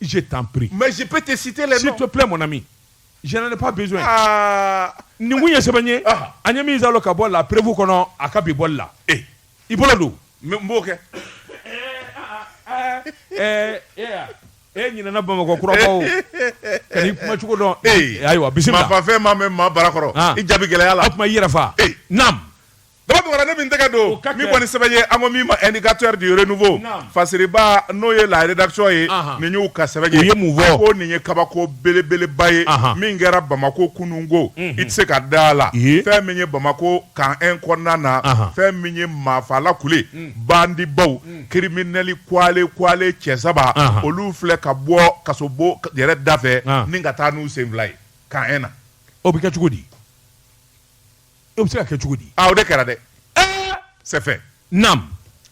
je t'en prie. Mais je peux te citer les noms. S'il te plaît, mon ami. Je n'en ai pas besoin. Ah. Ni mun ye sɛbɛn ye. Ah. An ye min zalo ka bɔ la prévu kɔnɔ a ka bi bɔli la. Eh. I bolo don. N b'o kɛ. Ɛɛ e ɲinɛna Bamakɔ kuraba o. Ka n'i kuma cogo dɔn. Ee ayiwa bisimila. Maa fafɛn maa mɛn maa bara kɔrɔ. I jaabi gɛlɛya la. O tuma i yɛrɛ fa. Ee naam. Daba Tunkara ne min tɛgɛ don min kɔni sɛbɛn ye an ko min ma indicateur du renouveau fasiriba n'o ye la rédaction ye nin y'u ka sɛbɛn ye u ye mun fɔ ko nin ye kabako belebeleba ye min kɛra bamakɔ kunun ko i tɛ se ka da la fɛn min ye bamakɔ camp 1 kɔnɔna na fɛn min ye maafala kule bandibaw kirimli kule kule cɛ saba olu filɛ ka bɔ kasobon yɛrɛ da fɛ ni ka taa n'u sen fila ye camp 1 na o bɛ kɛ cogo di O bɛ se ka kɛ cogo di o de kɛra dɛ c'est fait naam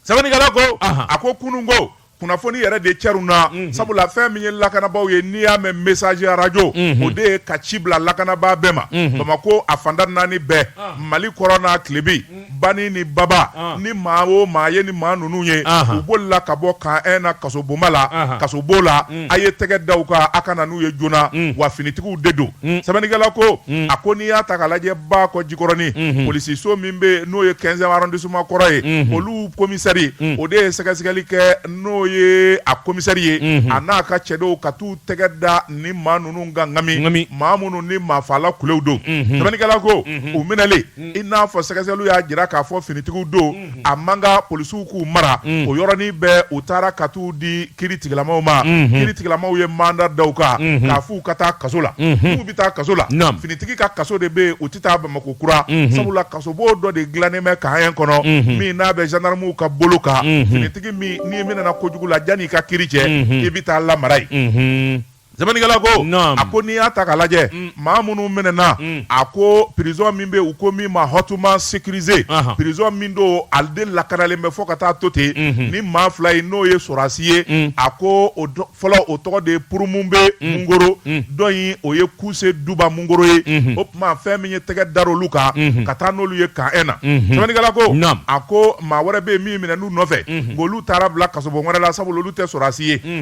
sɛbɛnnikɛla ko a ko kunun ko kunnafoni yɛrɛ de cɛrunna sabula fɛn min ye lakanabaaw ye n'i y'a mɛn message radio o de ye ka ci bila lakanabaa bɛɛ ma bamakɔ a fanda naani bɛɛ mali kɔrɔn n'a tilebin bani ni baba ni maa o maa ye ni maa ninnu ye u bolila ka bɔ camp 1 na kasobonba la kasobon la a ye tɛgɛ da u kan a ka na n'u ye joona wa finitigiw de don Mm. Sɛbɛnnikɛla ko mm. a ko n'i y'a ta k'a lajɛ bakɔ jikɔrɔni mm-hmm. polisiso min bɛ yen n'o ye 15e arrondissement kɔrɔ ye mm-hmm. olu komisɛri mm. o de ye sɛgɛsɛgɛli kɛ n'o ye a komisɛri ye mm-hmm. a n'a ka cɛdenw ka t'u tɛgɛ da ni maa ninnu kan ŋami maa minnu ni maafala kulew don sɛbɛnnikɛla ko u minɛlen i n'a fɔ sɛgɛsɛgɛliw y'a jira k'a fɔ finitigiw don a man ka polisiw k'u mara o yɔrɔnin bɛɛ u taara ka t'u di kiri tigilamaw ma kiri tigilamaw ye manda da u kan k'a f'u ka taa kaso la n'u bɛ taa kaso la finitigi ka kaso de bɛ yen u tɛ taa bamakɔ kura sabula kasobon dɔ de dilannen bɛ camp 1 kɔnɔ min n'a bɛ gendarmew ka bolo kan finitigi min n'i minɛna kojugu la yanni i ka kiri cɛ i bɛ taa lamara yen Sɛbɛnnikɛla ko naamu a ko n'i y'a ta k'a lajɛ un maa minnu minɛna un a ko prison min bɛ yen u ko min ma hautement sécurisé anhan prison min don ale de lakanalen bɛ fo ka taa to ten unhun ni maa fila in n'o ye sɔrɔdasi ye un a ko o dɔ fɔlɔ o tɔgɔ de ye Purumube un Mungoro un dɔ in o ye Kuse Duba Mungoro ye unhun o tuma fɛn min ye tɛgɛ dar'olu kan unhun ka taa n'olu ye camp 1 na unhun Sɛbɛnnikɛla ko naamu a ko maa wɛrɛ bɛ yen min minɛn'u nɔfɛ unhun nk'olu taara bila kasobon wɛrɛ la sabula olu tɛ sɔrɔdasi ye un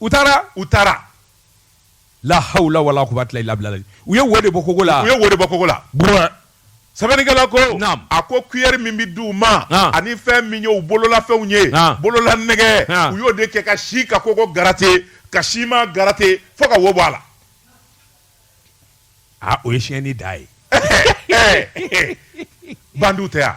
u taara u taara la hawla wala quwwata illa billah u ye wo de bɔ kogo la u ye wo bɔ kogo la sɛbɛnnikɛla ko a ko kuyɛri min bɛ di u ma ani fɛn min ye u bololafɛnw ye bolola nɛgɛ u y'o de kɛ ka si ka kogo garate ka sima garate fo ka wo bɔ a la aa o ye siyɛnni da ye bandiw tɛ yan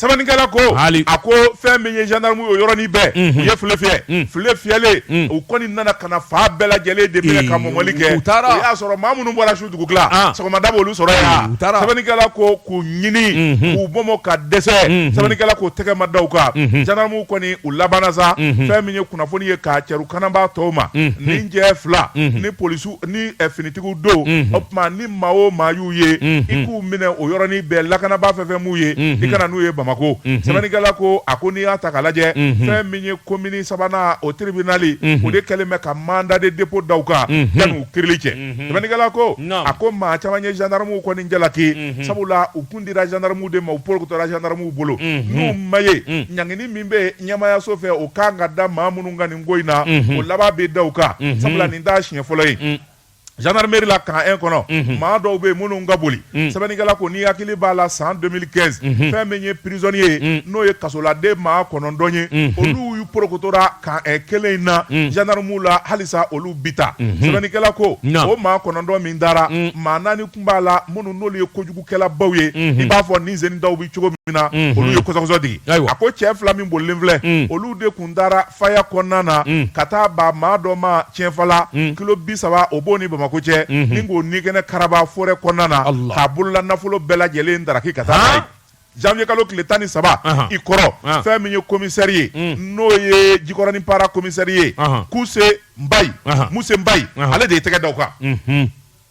sɛbɛnnikɛla ko Haali. a ko fɛn min ye gendarme ye o yɔrɔnin bɛɛ Mhm. u ye file fiyɛ Mm. file fiyɛlen Mm. u kɔni nana ka na fan bɛɛ lajɛlen de minɛ ka Ee, mɔmɔli kɛ u taara. o y'a sɔrɔ maa minnu bɔra su dugutila Ah. sɔgɔmada b'olu sɔrɔ Ee, yan u taara. sɛbɛnnikɛla ko k'u ɲini Mhm. k'u mɔmɔ ka dɛsɛ Mhm. sɛbɛnnikɛla ko tɛgɛ ma da u kan Mhm. gendarmew kɔni u labanna sa Mhm. fɛn min ye kunnafoni ye k'a cɛru kanabaa tɔw ma Mhm. ni jɛ fila Mhm. ni polisiw ni eh, finitigiw don Mhm. o tuma ni maa o maa y'u ye i k'u minɛ o yɔrɔnin bɛɛ lakanabaa fɛn fɛn m'u ye i ka na n'u ye bamakɔ sɛbɛnnikɛla ko a ko n'i y'a ta k'a lajɛ fɛn min ye komini sabanan o tiribinali o de kɛlen bɛ ka mandat de dépôt da u kan yanni u kirili cɛ sɛbɛnnikɛla ko a ko maa caman ye zandaramuw kɔni jalaki sabula u kun dira zandaramu de ma u porokotora zandaramu bolo n'u ma ye ɲangini min bɛ ɲɛmayaso fɛ o ka kan ka da maa minnu kan nin ko in na o laban bɛ da u kan sabula nin t'a siɲɛ fɔlɔ ye Zandaramɛri la camp un kɔnɔ maa dɔw bɛ minnu ka boli sɛbɛnnikɛla ko ni hakili b'a la san deux mille quinze fɛn min ye prizoniye ye n'o ye kasoladen maa kɔnɔntɔn ye olu y'u porokotora camp un kelen in na zandaramu la halisa olu bi taa sɛbɛnnikɛla ko o maa kɔnɔntɔn min taara maa naani kun b'a la minnu n'olu ye kojugukɛla baw ye i b'a fɔ ni zeni dɔw bɛ cogo min na olu ye kɔsɔkɔsɔ digi a ko cɛ fila min bolilen filɛ olu de taara faya kɔnɔna na ka taa ba maa dɔ ma tiɛnfala kilo bi saba o b'o ni bamakɔ cɛ ni k'o nikɛnɛ karaba forɛ kɔnɔna na k'a bolola nafolo bɛɛ lajɛlen daraki ka taa zanwuye kalo tile tan ni saba i kɔrɔ fɛn min ye komisɛri ye n'o ye jikɔrɔnin para komisɛri ye kuse mbayi muse mbayi ale de ye tɛgɛ da u kan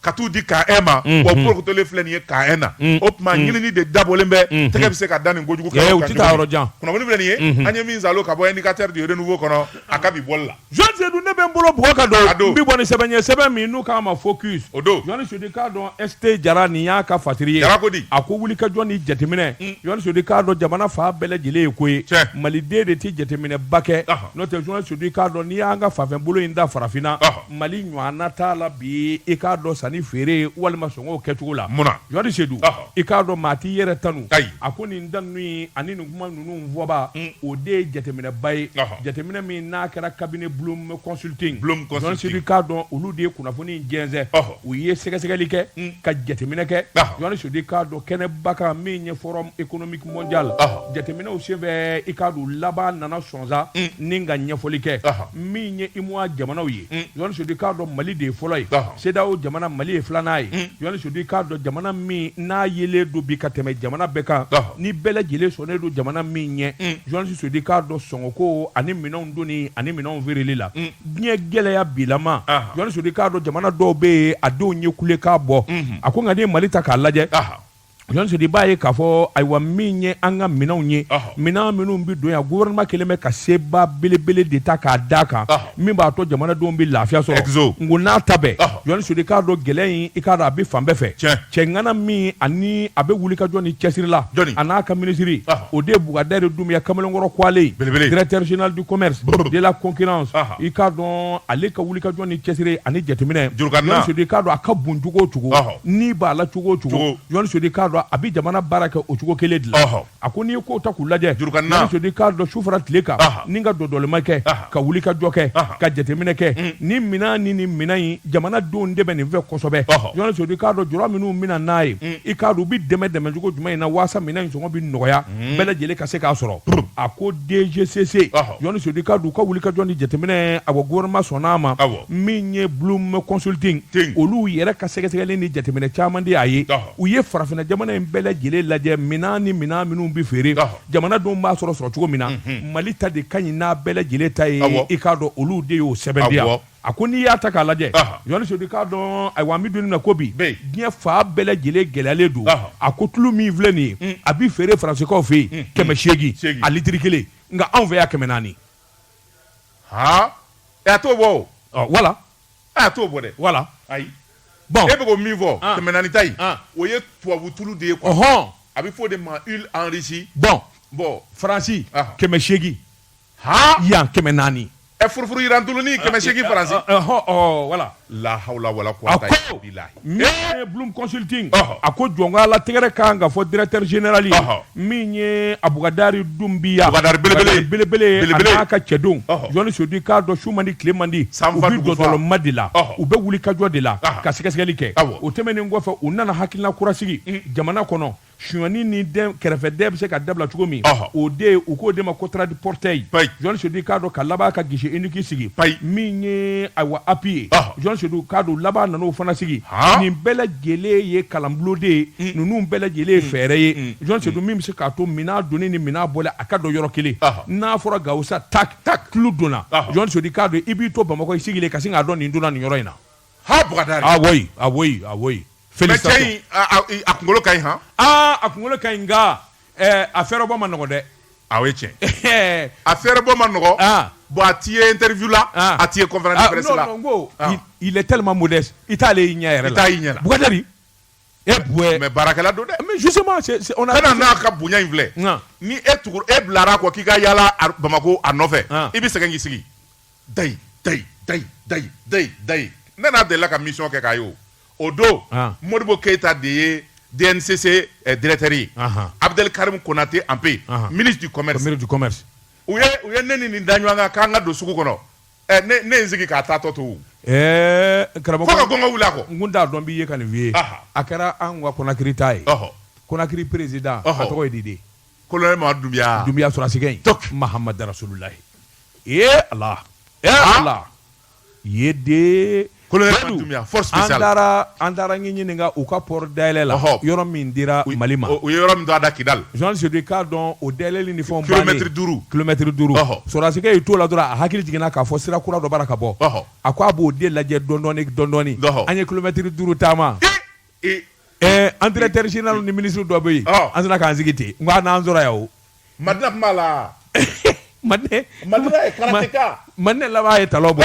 ka t'u di camp un ma wa porokotolen filɛ nin ye camp un na o tuma ɲinini de dabɔlen bɛ tɛgɛ bɛ se ka da nin kojugu kɛ u tɛ taa yɔrɔ jan kunnafoni filɛ nin ye an ye min sɔrɔ ka bɔ Indicateur du Renouveau kɔnɔ a ka bi bɔli la jenerali seyidu ne bɛ n bolo bugɔ ka don n bɛ bɔ ni sɛbɛn ye sɛbɛn min n'u k'a ma Focus o don jenerali seyidu i k'a dɔn ST jara nin y'a ka fasiri ye a ko di a ko wulikajɔ ni jateminɛ jenerali seyidu i k'a dɔn jamana fan bɛɛ lajɛlen ye ko ye maliden de tɛ jateminɛba kɛ n'o tɛ jenerali seyidu i k'a dɔn n'i y'an ka fanfɛbolo in ta farafinna mali ɲɔgɔnna t'a la bi i k'a dɔn sanni feere walima sɔngɔ kɛcogo la munna jenerali seyidu i k'a dɔn maa t'i yɛrɛ tanu a ko nin da ninnu ani nin kuma ninnu fɔbaa mm. o de ye jateminɛba ye jateminɛ min n'a kɛra cabinet Bloom Consulting seyidu i k'a dɔn olu de ye kunnafoni jɛnsɛn u ye sɛgɛsɛgɛli kɛ mm. ka jateminɛ kɛ jenerali seyidu i k'a dɔn kɛnɛba kan min ye forum économique mondial jateminɛw senfɛ i k'a dɔn laban nana sonsan mm. ni ka ɲɛfɔli kɛ min ye UEMOA jamanaw ye mm. jenerali seyidu i k'a dɔn mali de ye fɔlɔ ye CEDEAO jamana mali ye filanan ye mm. jenerali seyidu i k'a dɔn jamana min n'a yelen don bi ka tɛmɛ jamana bɛɛ kan ni bɛɛ lajɛlen sɔnnen don jamana min ɲɛ jenerali seyidu i k'a dɔn sɔngɔko ani minɛnw donni ani minɛnw feereli la diɲɛ gɛlɛya bilama jenerali seyidu i k'a dɔn jamana dɔw bɛ yen a denw ye kulekan bɔ a ko nka n'i ye mali ta k'a lajɛ Seyidu b'a ye k'a fɔ ayiwa min ye an ka minɛnw ye minɛn minnu bɛ don yan gofɛrɛnaman kɛlen bɛ ka seba belebele de ta k'a d'a kan min b'a to jamanadenw bɛ lafiya sɔrɔ n ko n'a ta bɛɛ jenerali seyidu i k'a dɔn gɛlɛya in i k'a dɔn a bɛ fan bɛɛ fɛ cɛŋana min ani a bɛ wulikajɔ ni cɛsiri la a n'a ka minisiri o de ye bukadari dunbuya kamalenkɔrɔ ko ale ye directeur général du commerce de la concurrence i k'a dɔn ale ka wulikajɔ ni cɛsiri ani jateminɛ jɔnni sedu k'a dɔn a ka bon cogo o cogo ni b'a la cogo o cogo jɔnni sedu k'a dɔn a bɛ jamana baara kɛ o cogo kelen de la a ko n'i ko ta k'u lajɛ jɔnni sedu k'a dɔn su fara tile kan ni ka dɔdɔlima kɛ ka wulikajɔ kɛ ka jateminɛ kɛ mm. ni minɛn ni nin minɛn in jamanadenw de bɛ nin fɛ kosɛbɛ jɔnni sedu k'a dɔn jɔn minnu bɛna n'a ye mm. i k'a dɔn u bɛ dɛmɛ dɛmɛcogo jumɛn in na waasa minɛn in sɔngɔ bɛ nɔgɔya bɛɛ lajɛlen ka se k'a sɔrɔ a ko DGCC jɔnni sedu k'a dɔn u ka wulikajɔ ni jateminɛ a ko gouvernement sɔnna a ma min ye bloom consulting olu yɛrɛ ka sɛgɛsɛgɛli ni jateminɛ caman de y'a ye u ye farafinna jamana in bɛɛ lajɛlen lajɛ minɛn ni minɛn minnu bɛ feere jamanadenw b'a sɔrɔ sɔrɔ cogo min na mali ta de ka ɲi n'a bɛɛ lajɛlen ta ye i k'a dɔn olu de y'o sɛbɛn a ko n'i y'a ta k'a lajɛ jɔnni sedu k'a dɔn ayiwa an bɛ don min na ko bi diɲɛ fan bɛɛ lajɛlen gɛlɛyalen don a ko tulu min filɛ nin ye mm. a bɛ feere faransekaw fɛ yen mm. kɛmɛ seegin a litiri kelen nka anw fɛ yan kɛmɛ naani a t'o bɔ wala a t'o bɔ dɛ walayi bɔn e bɛ ko min fɔ kɛmɛ naani ta in o ye tubabu tulu de ye quoi a bɛ fɔ o de ma huile enrichie bɔn bɔn faransi kɛmɛ seegin yan kɛmɛ naani ɛ furufuru jiran tulunin kɛmɛ seegin faransi wala la hawla wala quwwata min ye bloom consulting a ko jɔnka la tɛgɛrɛ kan ka fɔ directeur général min ye a bukadari dumbuya belebele a n'a ka cɛdenw jɔnni sedu k'a dɔn su man di tile man di u bɛ dɔdɔlima de la u bɛ wulikajɔ de la ka sɛgɛsɛgɛli kɛ o tɛmɛnen kɔfɛ u nana hakilila kura sigi jamana kɔnɔ suyani ni kɛrɛfɛ dɛn bɛ se ka dabila cogo min o de u k'o de ma ko trade portal jɔnni sedu k'a dɔn ka laban ka guichet unique sigi min ye ayiwa API ye jɔnni sedu k'a dɔn laban nan'o fana sigi nin bɛɛ lajɛlen ye kalanbulon de ye ninnu bɛɛ lajɛlen ye fɛɛrɛ ye jɔnni sedu min bɛ se k'a to minɛn donni ni minɛn bɔli a ka dɔn yɔrɔ kelen n'a fɔra gawusu tulu donna jɔnni sedu k'a dɔn i b'i to bamakɔ i sigilen ka sin k'a dɔn nin donna nin yɔrɔ in na Ha bda a a kunkolo ka h aaa a kunkolo ka nka a fɛ bɔ ma nɔgɔ dɛ a tiɲɛ a fɛ bɔ ma nɔgɔ bon a ti ye terifila a ti ko ko ilitlima mun dɛ i t'ale y'i ɲɛ yɛrɛ taa y'i ɲɛ e mɛ baarakɛla don dɛ n'a ka bonya in filɛ ni e tugu e bilara kɔ k'i ka yalala bamakɔ a nɔfɛ i bɛ segin k'i sigi da da da da da da ne n'a delila ka mission kɛ kayi o o don modibo keyita de ye DNCC directeur ye abdel karim konatɛ empé ministre du commerce ministre du commerce u ye ne ni nin da ɲɔgɔn kan k'an ka don sugu kɔnɔ ne in sigi k'a taatɔ to karamɔgɔ ka kɔn wili kɔ n t'a dɔn b'i ye ka nin f'i ye a kɛra an ka konakiri taa ye konakiri président a tɔgɔ ye di de kolonɛli Mamadi Dunbuya sɔrɔsi Mahamadu rasulullahi ee ala e ala ye den ko force spéciale an taara Ginekaw ka poro dayɛlɛ la yɔrɔ min dira mali ma o yɔrɔ min da Kidal Jɔni Sodi k'a dɔn o dayɛlɛ ni fo kilomɛtiri duuru kilomɛtiri duuru sɔsi i t'o la dɔrɔn a hakili jiginna k'a fɔ sira kura dɔ bara ka bɔ a ko a b'o de lajɛ dɔndɔɔni dɔndɔɔni an ye kilomɛtiri duuru taama an teri directeur général ni ministre dɔ bɛ yen an sera k'an sigi ten nka n'an sɔrɔ yan ma tɛna tun' la mande mande laban ye ta bɔ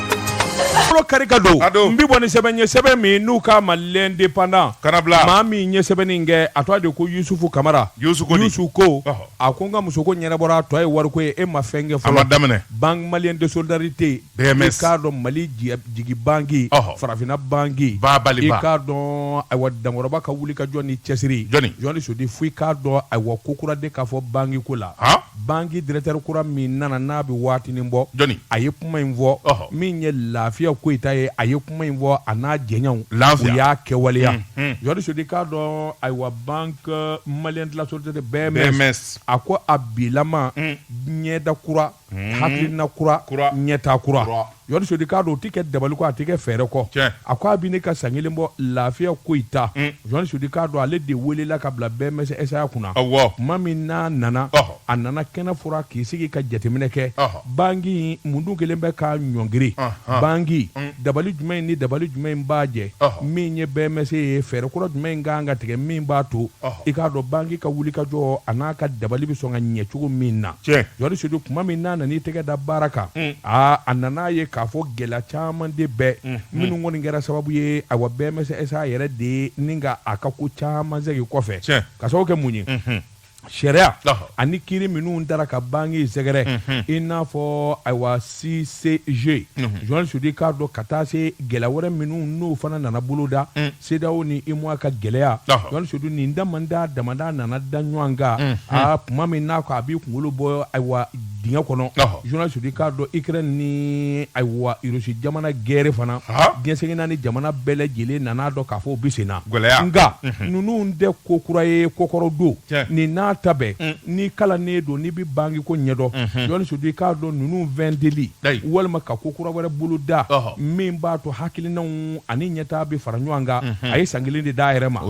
Fɔlɔ kari ka don Ka don. n bɛ bɔ ni sɛbɛn ye sɛbɛn min n'u k'a ma l'indépendant Kana bila. maa min ye sɛbɛnni in kɛ a tɔgɔ de ye ko Yusufu Kamara Yusu Koni. Yusu ko Ɔhɔ. a ko n ka musoko ɲɛnabɔra a tɔ ye wariko ye e ma fɛn kɛ fɔlɔ A ma daminɛ. Banque malienne de solidarité BMS. i k'a dɔn Mali jigi jigi banque Ɔhɔ. farafinna banque Ba baliba. i k'a dɔn ayiwa dankɔrɔba ka wulikajɔ ni cɛsiri Jɔni Sodi fo i k'a dɔn ayiwa ko kura de k'a fɔ banque ko la Han? banque directeur kura min nana n'a bɛ waatinin bɔ jɔni a ye kuma in fɔ min ye lafiya koyita ye a ye kuma in fɔ a n'a jɛɲɔgɔnw u y'a kɛwaleya jɔni sodi k'a dɔn ayiwa banque malien de la solidarité BMS a ko a bilama ɲɛda kura hakilina kura ɲɛtaa kura Jɔni Sodi k'a dɔn o tɛ kɛ dabali kɔ a tɛ kɛ fɛɛrɛ kɔ Tiɲɛ. a ko a bɛ ne ka san kelen bɔ lafiya koyita Jɔni Sodi k'a dɔn ale de welela ka bila BMS SA kunna Awɔ. tuma min n'a nana Ɔhɔ. a nana kɛnɛ furan k'i sigi ka jateminɛ kɛ Ɔhɔ. banki mun dun kɛlen bɛ k'a ɲɔngiri Ɔhɔ. banki dabali jumɛn ni dabali jumɛn in b'a jɛ Ɔhɔ. min ye BMS ye fɛɛrɛ kura jumɛn in ka kan ka tigɛ min b'a to Ɔhɔ. i k'a dɔn banki ka wuli ka jɔ a n'a ka dabali bɛ sɔn ka ɲɛ cogo min na Tiɲɛ journaliste Sedu tuma min n'a nan'i tɛgɛ da baara kan aa a nana a ye k'a fɔ gɛlɛya caman de bɛ minnu kɔni kɛra sababu ye ayiwa BMS SA yɛrɛ de ye ni ka a ka ko caman segin kɔfɛ ka sababu kɛ mun ye sariya ani kiiri minnu taara ka banki sɛgɛrɛ i n'a fɔ ayiwa SICG journaliste Sedu k'a dɔn ka taa se gɛlɛya wɛrɛ minnu n'o fana nana boloda CEDEAO ni UEMOA ka gɛlɛya journaliste Sedu nin damadɔ damadɔ nana da ɲɔgɔn kan aa tuma min n'a ko a b'i kunkolo bɔ ayiwa dingɛ kɔnɔ journaliste Sedu i k'a dɔn Ikɛrɛni ni ayiwa Irisi jamana gɛrɛ fana diɲɛ seleke naani jamana bɛɛ lajɛlen nana a dɔn k'a fɔ u bɛ sen na gɛlɛya nka ninnu tɛ ko kura ye ko kɔrɔ don ni nata bɛ n'i kalannen don n'i bɛ banki ko ɲɛdɔn journaliste Sedu i k'a dɔn ninnu wɛn deli walima ka ko kura wɛrɛ bolo da min b'a to hakilinanw ani ɲɛtaa bɛ fara ɲɔgɔn kan a ye san kelen de d'a yɛrɛ ma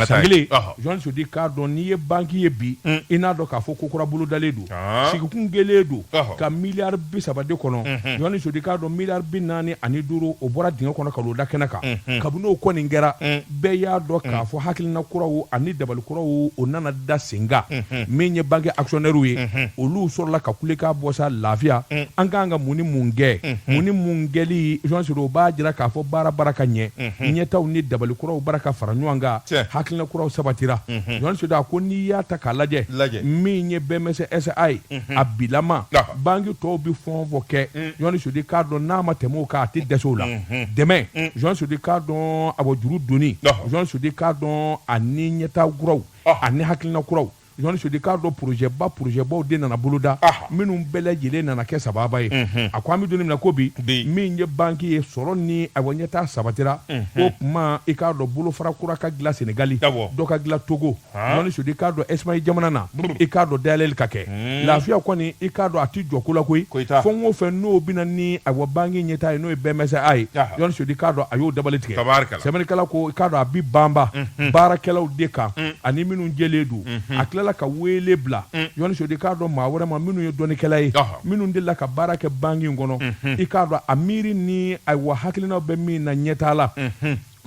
san kelen jɔn sudi k'a dɔn n'i ye banki ye bi mm. i n'a dɔn k'a fɔ ko kura bolodalen don ah. sigikun gɛlɛn don ka miliyari bi saba de kɔnɔ mm-hmm. jɔn sudi k'a dɔn miliyari bi naani ani duuru o bɔra dingɛ kɔnɔ k'olu da kɛnɛ kan mm-hmm. kabini o kɔni kɛra mm. bɛɛ y'a dɔn k'a mm. fɔ hakilina kuraw ani dabali kuraw o nana da sen kan min ye banki akisiyɔnɛriw ye olu sɔrɔla ka kule ka bɔ sa lafiya mm. an k'an ka mun ni mun kɛ mm-hmm. mun ni mun kɛli jɔnsiri o b'a jira k'a fɔ baara bara ka ɲɛ mm-hmm. ɲɛtaaw ni dabali kuraw bara ka fara ɲɔgɔn kan hakilina kuraw sabatira mm-hmm. jɔnsiri a ko n'i y'a ta k'a lajɛ min ye BMS SA ye a bilama banki tɔw bɛ fɔn fɔ kɛ jɔnsiri mm. k'a dɔn n'a ma tɛmɛ o kan a tɛ dɛsɛ u la mm. dɛmɛ jɔn sudi k'a dɔn awa juru donni jɔn sudi k'a dɔn ani ɲɛtaa kuraw ani hakilina kuraw jɔn sudi k'a dɔn porozɛba porozɛbaw de nana boloda minnu bɛɛ lajɛlen nana kɛ sababa ye a ko an bɛ don min na ko bi min ye banki ye sɔrɔ ni awa ɲɛtaa sabatira o tuma i k'a dɔn bolofara kura ka dilan Senegali dɔ ka dilan Togo jɔn sudi k'a dɔn Ɛsipaɲi jamana na i k'a dɔn dayɛlɛli ka kɛ hmm. lafiya kɔni i k'a dɔn a ti jɔ ko la koyi fɛn o fɛn n'o bɛna ni awa banki ɲɛtaa ye n'o ye BMS SA ye jɔn sudi k'a dɔn a y'o dabali tigɛ sɛbɛnnikɛla ko i k'a dɔn a bi banba hmm. baarakɛlaw de kan hmm. ani minnu jɛlen don a tilala ka weele bila jɔn sudi k'a dɔn maa wɛrɛ ma minnu ye dɔnnikɛla ye minnu delila ka baara kɛ banki in kɔnɔ i k'a dɔn a miiri ni awa hakilinaw bɛ min na ɲɛtaa la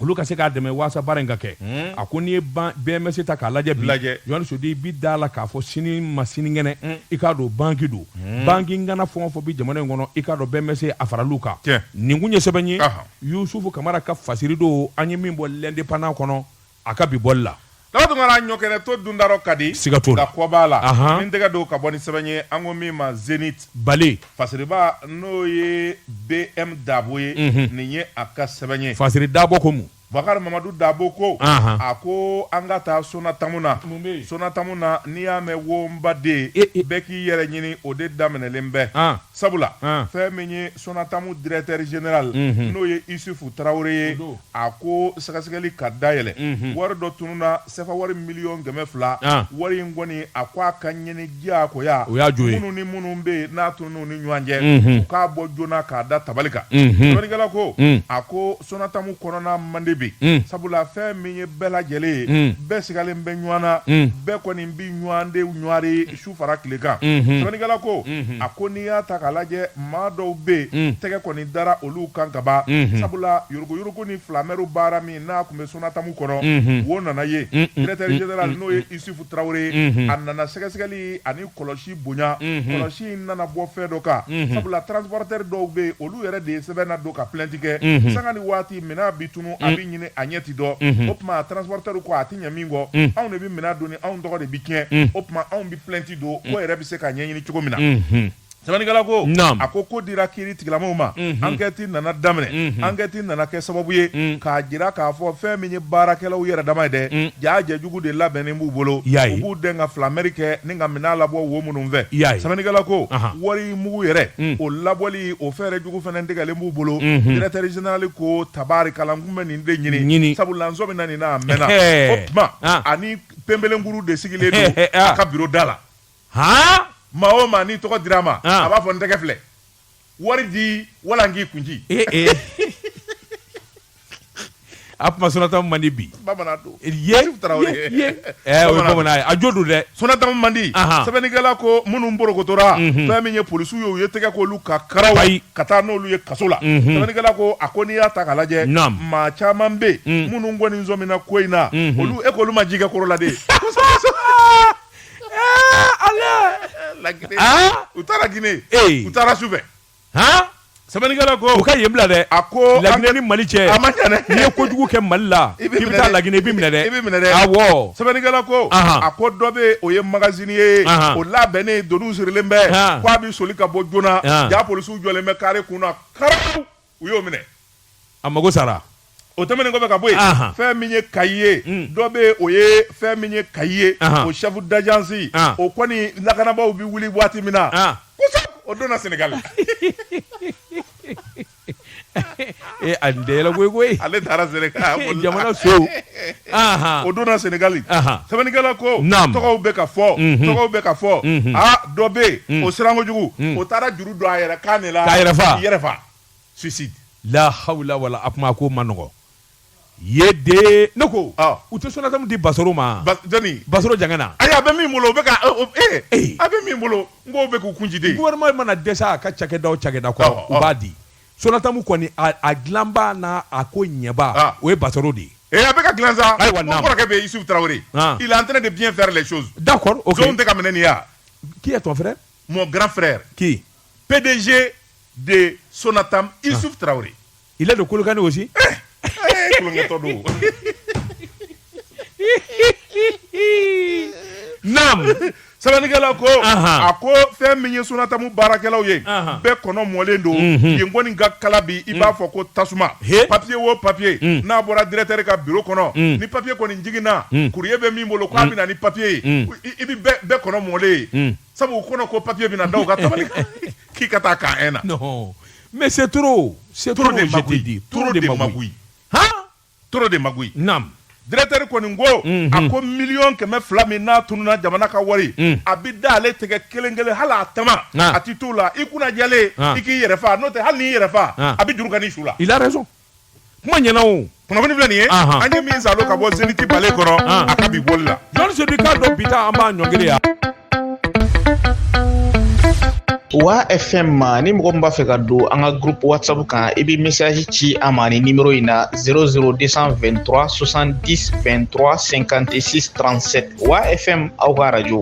olu ka se k'a dɛmɛ waasa baara in ka kɛ hmm. a ko n'i ye BMS ta k'a lajɛ bi jɔni sodi i bi d'a la k'a fɔ sini ma sinikɛnɛ hmm. i k'a dɔn banki don hmm. banki ŋana fɛn o fɛn bi jamana in kɔnɔ i k'a dɔn BMS a fara olu kan nin kun ye sɛbɛn ye yusufu kamara ka fasiri don an ye min bɔ lɛndepandan kɔnɔ a ka bi bɔli la Daga dun ka ɲɔkɛnɛ to dunda ka di siga to la kɔ b'a la n tɛgɛ don ka bɔ ni sɛbɛn ye an ko min ma Zenith Bale fasiriba n'o ye BM Dabo ye nin ye a ka sɛbɛn ye fasiri dabo ko Bakari Mamadu Dabo ko a ko an ka taa Sonatamu na Sonatamu na n'i y'a mɛn wo baden bɛɛ k'i yɛrɛ ɲini o de daminɛlen bɛ sabula fɛn min ye Sonatamu dirɛkitɛri zenerali n'o ye isufu tarawele ye a ko sɛgɛsɛgɛli ka dayɛlɛ wari dɔ tununna sefa wari miliyɔn kɛmɛ fila wari in kɔni a ko a ka ɲini diyagoya minnu ni minnu bɛ yen n'a tununna u ni ɲɔgɔn cɛ u k'a bɔ joona k'a da tabali kan sɛbɛnnikɛla ko a ko Sonatamu kɔnɔna man di bi sabula fɛn min ye bɛɛ lajɛlen ye bɛɛ sigalen bɛ ɲɔgɔn na bɛɛ kɔni bɛ ɲɔgɔn de ɲɔgɔri su fara tile kan sɛbɛnnikɛla ko a ko n'i y'a ta k'a lajɛ maa dɔw bɛ yen tɛgɛ kɔni dara olu kan kaban sabula yuruguyurugu ni filamɛriw baara min n'a tun bɛ Sonatamu kɔnɔ wo nana ye directeur général n'o ye Isufu Tarawele ye a nana sɛgɛsɛgɛli ani kɔlɔsi bonya kɔlɔsi in nana bɔ fɛn dɔ kan sabula transporteur dɔw bɛ yen olu yɛrɛ de ye sɛbɛn nadon ka plainte kɛ sanga ni waati minɛn bɛ tunun a bɛ ɲini a ɲɛ tɛ dɔn o tuma transporteur ko a tɛ ɲɛ min kɔ mm. anw de bɛ minɛn doni anw tɔgɔ de bɛ tiɲɛ mm. o tuma anw bɛ plainte don mm. ko yɛrɛ bɛ se ka ɲɛɲini cogo min na mm-hmm. sɛbɛnnikɛla ko a ko ko dira kiiri tigilamaw ma mm-hmm. ankɛti nana daminɛ mm-hmm. ankɛti nana kɛ sababu ye k'a jira k'a fɔ fɛn min ye baarakɛlaw yɛrɛ dama ye dɛ jaa jɛjugu de labɛnnen b'u bolo u b'u dɛn ka filamɛri kɛ ni ka minɛn labɔ wo minnu fɛ sɛbɛnnikɛla ko wari mugu yɛrɛ o labɔli o fɛɛrɛ jugu fana tigɛlen b'u bolo directeur général ko tabarikala n bɛ nin de ɲini ɲini sabula n sɔmina nin na a mɛnna o tuma ani pembelenkuru de sigilen don a ka biro da la aa maa o maa n'i tɔgɔ dira a ma a b'a fɔ n tɛgɛ filɛ wari di wala n k'i kun ci a kuma Sonatamu man di bi a jo don dɛ Sonatamu man di sɛbɛnnikɛla ko minnu porokotora fɛn min ye polisiw ye u ye tɛgɛ k'olu kan karaw ka taa n'olu ye kaso la sɛbɛnnikɛla ko a ko n'i y'a ta k'a lajɛ maa caman bɛ minnu kɔni sɔmina ko in na olu e k'olu ma ji kɛ koro la de u taara Guinée u taara su fɛ sɛbɛnnikɛla ko u ka yen bila dɛ a ko laginɛ ni mali cɛ a ma ɲɛ n'i ye kojugu kɛ mali la i bɛ taa laginɛ i bɛ minɛ dɛ i bɛ minɛ dɛ awɔ sɛbɛnnikɛla ko a ko dɔ bɛ o ye magasinier ye o labɛnnen doniw sirilen bɛ k'a bɛ soli ka bɔ joona jaa polisiw jɔlen bɛ kare kun na karaw u y'o minɛ a mago sara o tɛmɛnen kɔfɛ ka bɔ yen Ahan. fɛn min ye kayi ye Mm. dɔ bɛ yen o ye fɛn min ye kayi ye Ahan. o chef d'agence Ah. o kɔni lakanabaaw bɛ wuli waati min na Ah. kosɛbɛ o donna Sénégal ee a nin tɛ yɛlɛ koyi koyi ale taara Sénégal o la- jamana sow ahan o donna Sénégal Ahan. sɛbɛnnikɛla ko Naam. tɔgɔw bɛ ka fɔ Mhm. tɔgɔw bɛ ka fɔ Mhm. aa dɔ bɛ yen o siran kojugu o taara juru don a yɛrɛ kan de la K'a yɛrɛ fa. k'i yɛrɛ fa suicide la hawla wala a kuma ko ma nɔgɔya dɛ ne ko ah. u tɛ sonatamu di basoro ma ba, jani basoro jangana ayi a bɛ min bolo o bɛ ka eh, eh. a bɛ min bolo n k'o bɛ k'u kun ci de gouvernement mana dɛsɛ a ka cakɛda o cakɛda kɔrɔ ah, u ah. b'a di sonatamu kɔni a, a dilanba n'a a ko ɲɛba ah. o ye basoro de ye Et eh, a bɛ ka dilan sa, n kɔrɔkɛ Issouf Traoré, ah. il est en train de bien faire les choses. D'accord, ok. Zon bɛ ka minɛ nin ya. Qui est ton frère Mon grand frère. Qui? PDG de Sonatam, Issouf ah. Traoré. Il est de Kolokani aussi eh, eh, Nam sɛbɛnnikɛla ko a ko fɛn min ye Sonatam baarakɛlaw ye bɛɛ kɔnɔ mɔlen don mhm. yen kɔni ka kalan bi i b'a mm. fɔ ko tasuma papiye wo papiye mm. n'a bɔra directeur ka biro kɔnɔ mm. ni papiye kɔni jiginna courrier bɛ min bolo k'a bɛ na ni papiye ye i bɛ bɛɛ kɔnɔ mɔlen ye sabu u kɔnɔ ko papier bɛna da u ka tabali kan k'i ka taa Camp un na non mais c'est trop c'est trop de magouille trop de magouille han trop de magouille nam directeur kɔni ko a ko miliyɔn kɛmɛ fila min n'a tununa jamana ka wari a bɛ da ale tɛgɛ kelen kelen hali a tama a tɛ t'o la i kunna jɛlen i k'i yɛrɛ faa n'o tɛ hali n'i yɛrɛ faa a bɛ juru kani i su la il a raison kuma ɲɛna o kunnafoni filɛ nin ye Ahan. an ye min salo ka bɔ Zénith Balé kɔnɔ Ahan. a ka bi bɔli la jɔni sodi k'a dɔn bi ta an b'a ɲɔngiri yan wa fm ma ni mɔgɔ min b'a fɛ ka don an ka groupe whatsapp kan i bɛ message ci an ma nin nimero in na 00223 70 23 56 37 wa fm aw ka radio